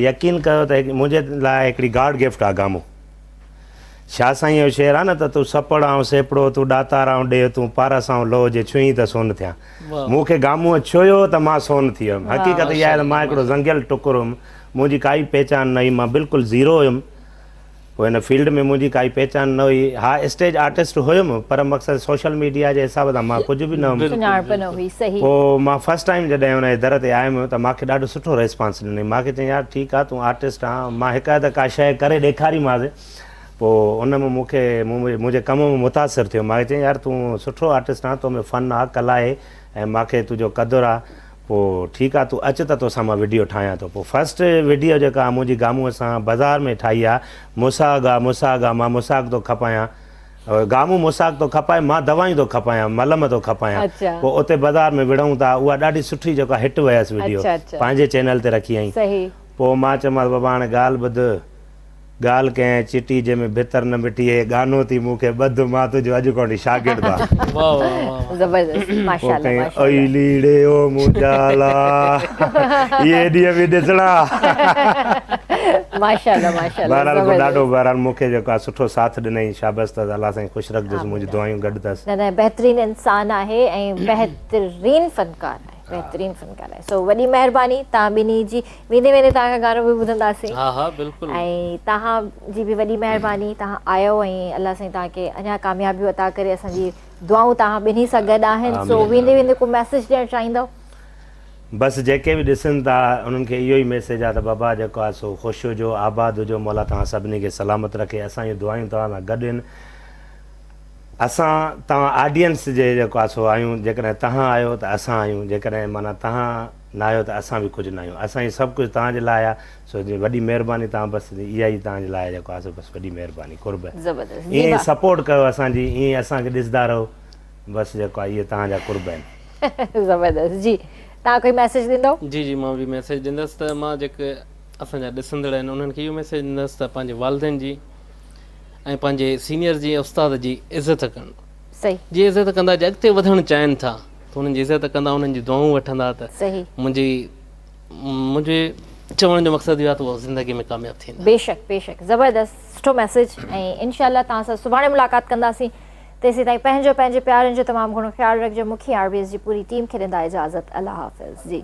Speaker 2: يقين ڪيو ته منهنجي لاء هڪڙي گاڊ گفٽ آ گامو. شاهه سائينء جو شعر آ نه ته تون سپڙ آئون سيپڙو، تون ڏاتار آئون ڏيهه، تون پارس آئون لوهه، جي ڇهين ته سون ٿيان. مون کي گاموء ڇهيو ته مان سون ٿي ويم. حقيقت اها آهي ته مان هڪڙو زنگيل ٽڪر هيم. منهنجي ڪائي پهچان نه هئي. مان بلڪل زيرو هيم. پوء هن فيلڊ ۾ منهنجي ڪائي پهچان نه هئي. ها اسٽيج آرٽسٽ هيم پر مقصد سوشل ميڊيا جي حساب سان مان ڪجهه به نه هيم. سڃاڻپ نه هئي صحيح. پوء مان فرسٽ ٽائيم جڏهن ان جي در تي آيم ته مانکي ڏاڍو سٺو ريسپانس ڏنائين. مانکي چيائين يار ٺيڪ آ تون آرٽسٽ آن. مان هڪ اڌ ڪا شيء ڪري ڏيکاريمانس. پوء ان مان مونکي منهنجي ڪم مان متاثر ٿيو. مانکي چيائين يار تون سٺو آرٽسٽ آن تو ۾ فن آ ڪلا آهي ۽ مانکي تنهنجو قدر آ. پوء ٺيڪ آ تون اچ ته توسان مان وڊيو ٺاهيان ٿو پوء فرسٽ وڊيو جيڪا منهنجي گامون سان بزار ۾ ٺاهي آ موسيٰ گا موسيٰ گا مان موساڪ ٿو کپايان گامون موساڪ ٿو کپائي مان دوائيون ٿو کپايان ملم ٿو کپايان پوء اتي بزار ۾ وڙهون ٿا اها ڏاڍي سٺي جيڪا هٽ ويس وڊيو پنهنجي چينل تي رکي اهين پوء مان چيومانس بابا هاڻي ڳالهه ٻڌ ڳالهه ڪنهن چٽي جنهن ۾ ڀتر نه مٽي هي ڳانو ٿي مون کي ٻڌ مان تنهنجو اڄ کان وٺي شاگرد آ. واھ واھ واھ واھ. زبردست ماشاء الله ماشاء الله. اي ليڙي او منهنجا لا اهي ڏينهن به ڏسڻا. ماشاء الله ماشاء الله. بهرحال مون ڏاڍو بهرحال مون کي جيڪو آ سٺو ساٿ ڏنئي شابس تس الله سائين خوش رکجس منهنجون دعايون گڏ تس. نه نه بهترين انسان
Speaker 1: آهي ۽ بهترين فنڪار آهي بهترين فنڪار آهي سو وڏي مهرباني تهان ٻنهي جي. ويندي ويندي توهان کان گانو به ٻڌنداسين ها ها بلڪل ۽
Speaker 3: توهان
Speaker 1: جي به وڏي مهرباني توهان آيو ۽ الله سائين توهان کي اڃا ڪاميابيون عطا ڪري اسان جي دعائون توهان ٻنهي سان گڏ آهن سو ويندي ويندي ڪو ميسيج ڏيڻ چاهيندؤ. بس
Speaker 2: جيڪي به ڏسن ٿا انهن کي اهو ئي ميسيج آ ته بابا جيڪو آ سو خوش هجو آباد هجو مولا توهان سڀني کي سلامت رکي اسان جون دعايون توهان سان گڏ آهن اسان توهان آڊينس جي جيڪو آ سو آهيون جيڪڏهن توهان آهيو ته اسان آهيون جيڪڏهن معنيٰ توهان ناهيو ته اسان به ڪجهه ناهيون. اسان هي سڀ ڪجهه توهان جي لاء آ سو وڏي مهرباني توهان بس اها ئي توهان جي لاء جيڪو آ سو بس وڏي مهرباني قرب زبردست جي ايئن ڀا. سپورٽ ڪيو اسان جي ايئن اسان کي ڏسدا رهو بس جيڪو آ اهي توهان جا قرب آهن. زبردست جي
Speaker 1: توهان ڪوئي ميسج ڏيندو. جي جي مان به ميسج
Speaker 3: ڏيندس ته مان جيڪي اسان جا ڏسندڙ آهن انهن کي اهو ميسج ڏيندس ته پنهنجي والدين جي ۽ پنهنجي سينئر جي استاد جي عزت ڪن. صحيح. جي عزت
Speaker 1: ڪندا جي
Speaker 3: اڳتي وڌڻ چاهين ٿا ته انهن جي عزت ڪندا انهن جون دعائون وٺندا ته صحيح. منهنجي منهنجي چوڻ جو مقصد اهو آهي ته اهو زندگي ۾ ڪامياب ٿيندا. بيشڪ بيشڪ
Speaker 1: زبردست سٺو ميسيج ۽ انشاء الله توهان سان سڀاڻي ملاقات ڪنداسين تيسيتائين پنهنجو پنهنجي پيارن جو تمام گهڻو خيال رکجو مون کي آر بي ايس جي پوري ٽيم کي ڏيندا اجازت الله حافظ جي.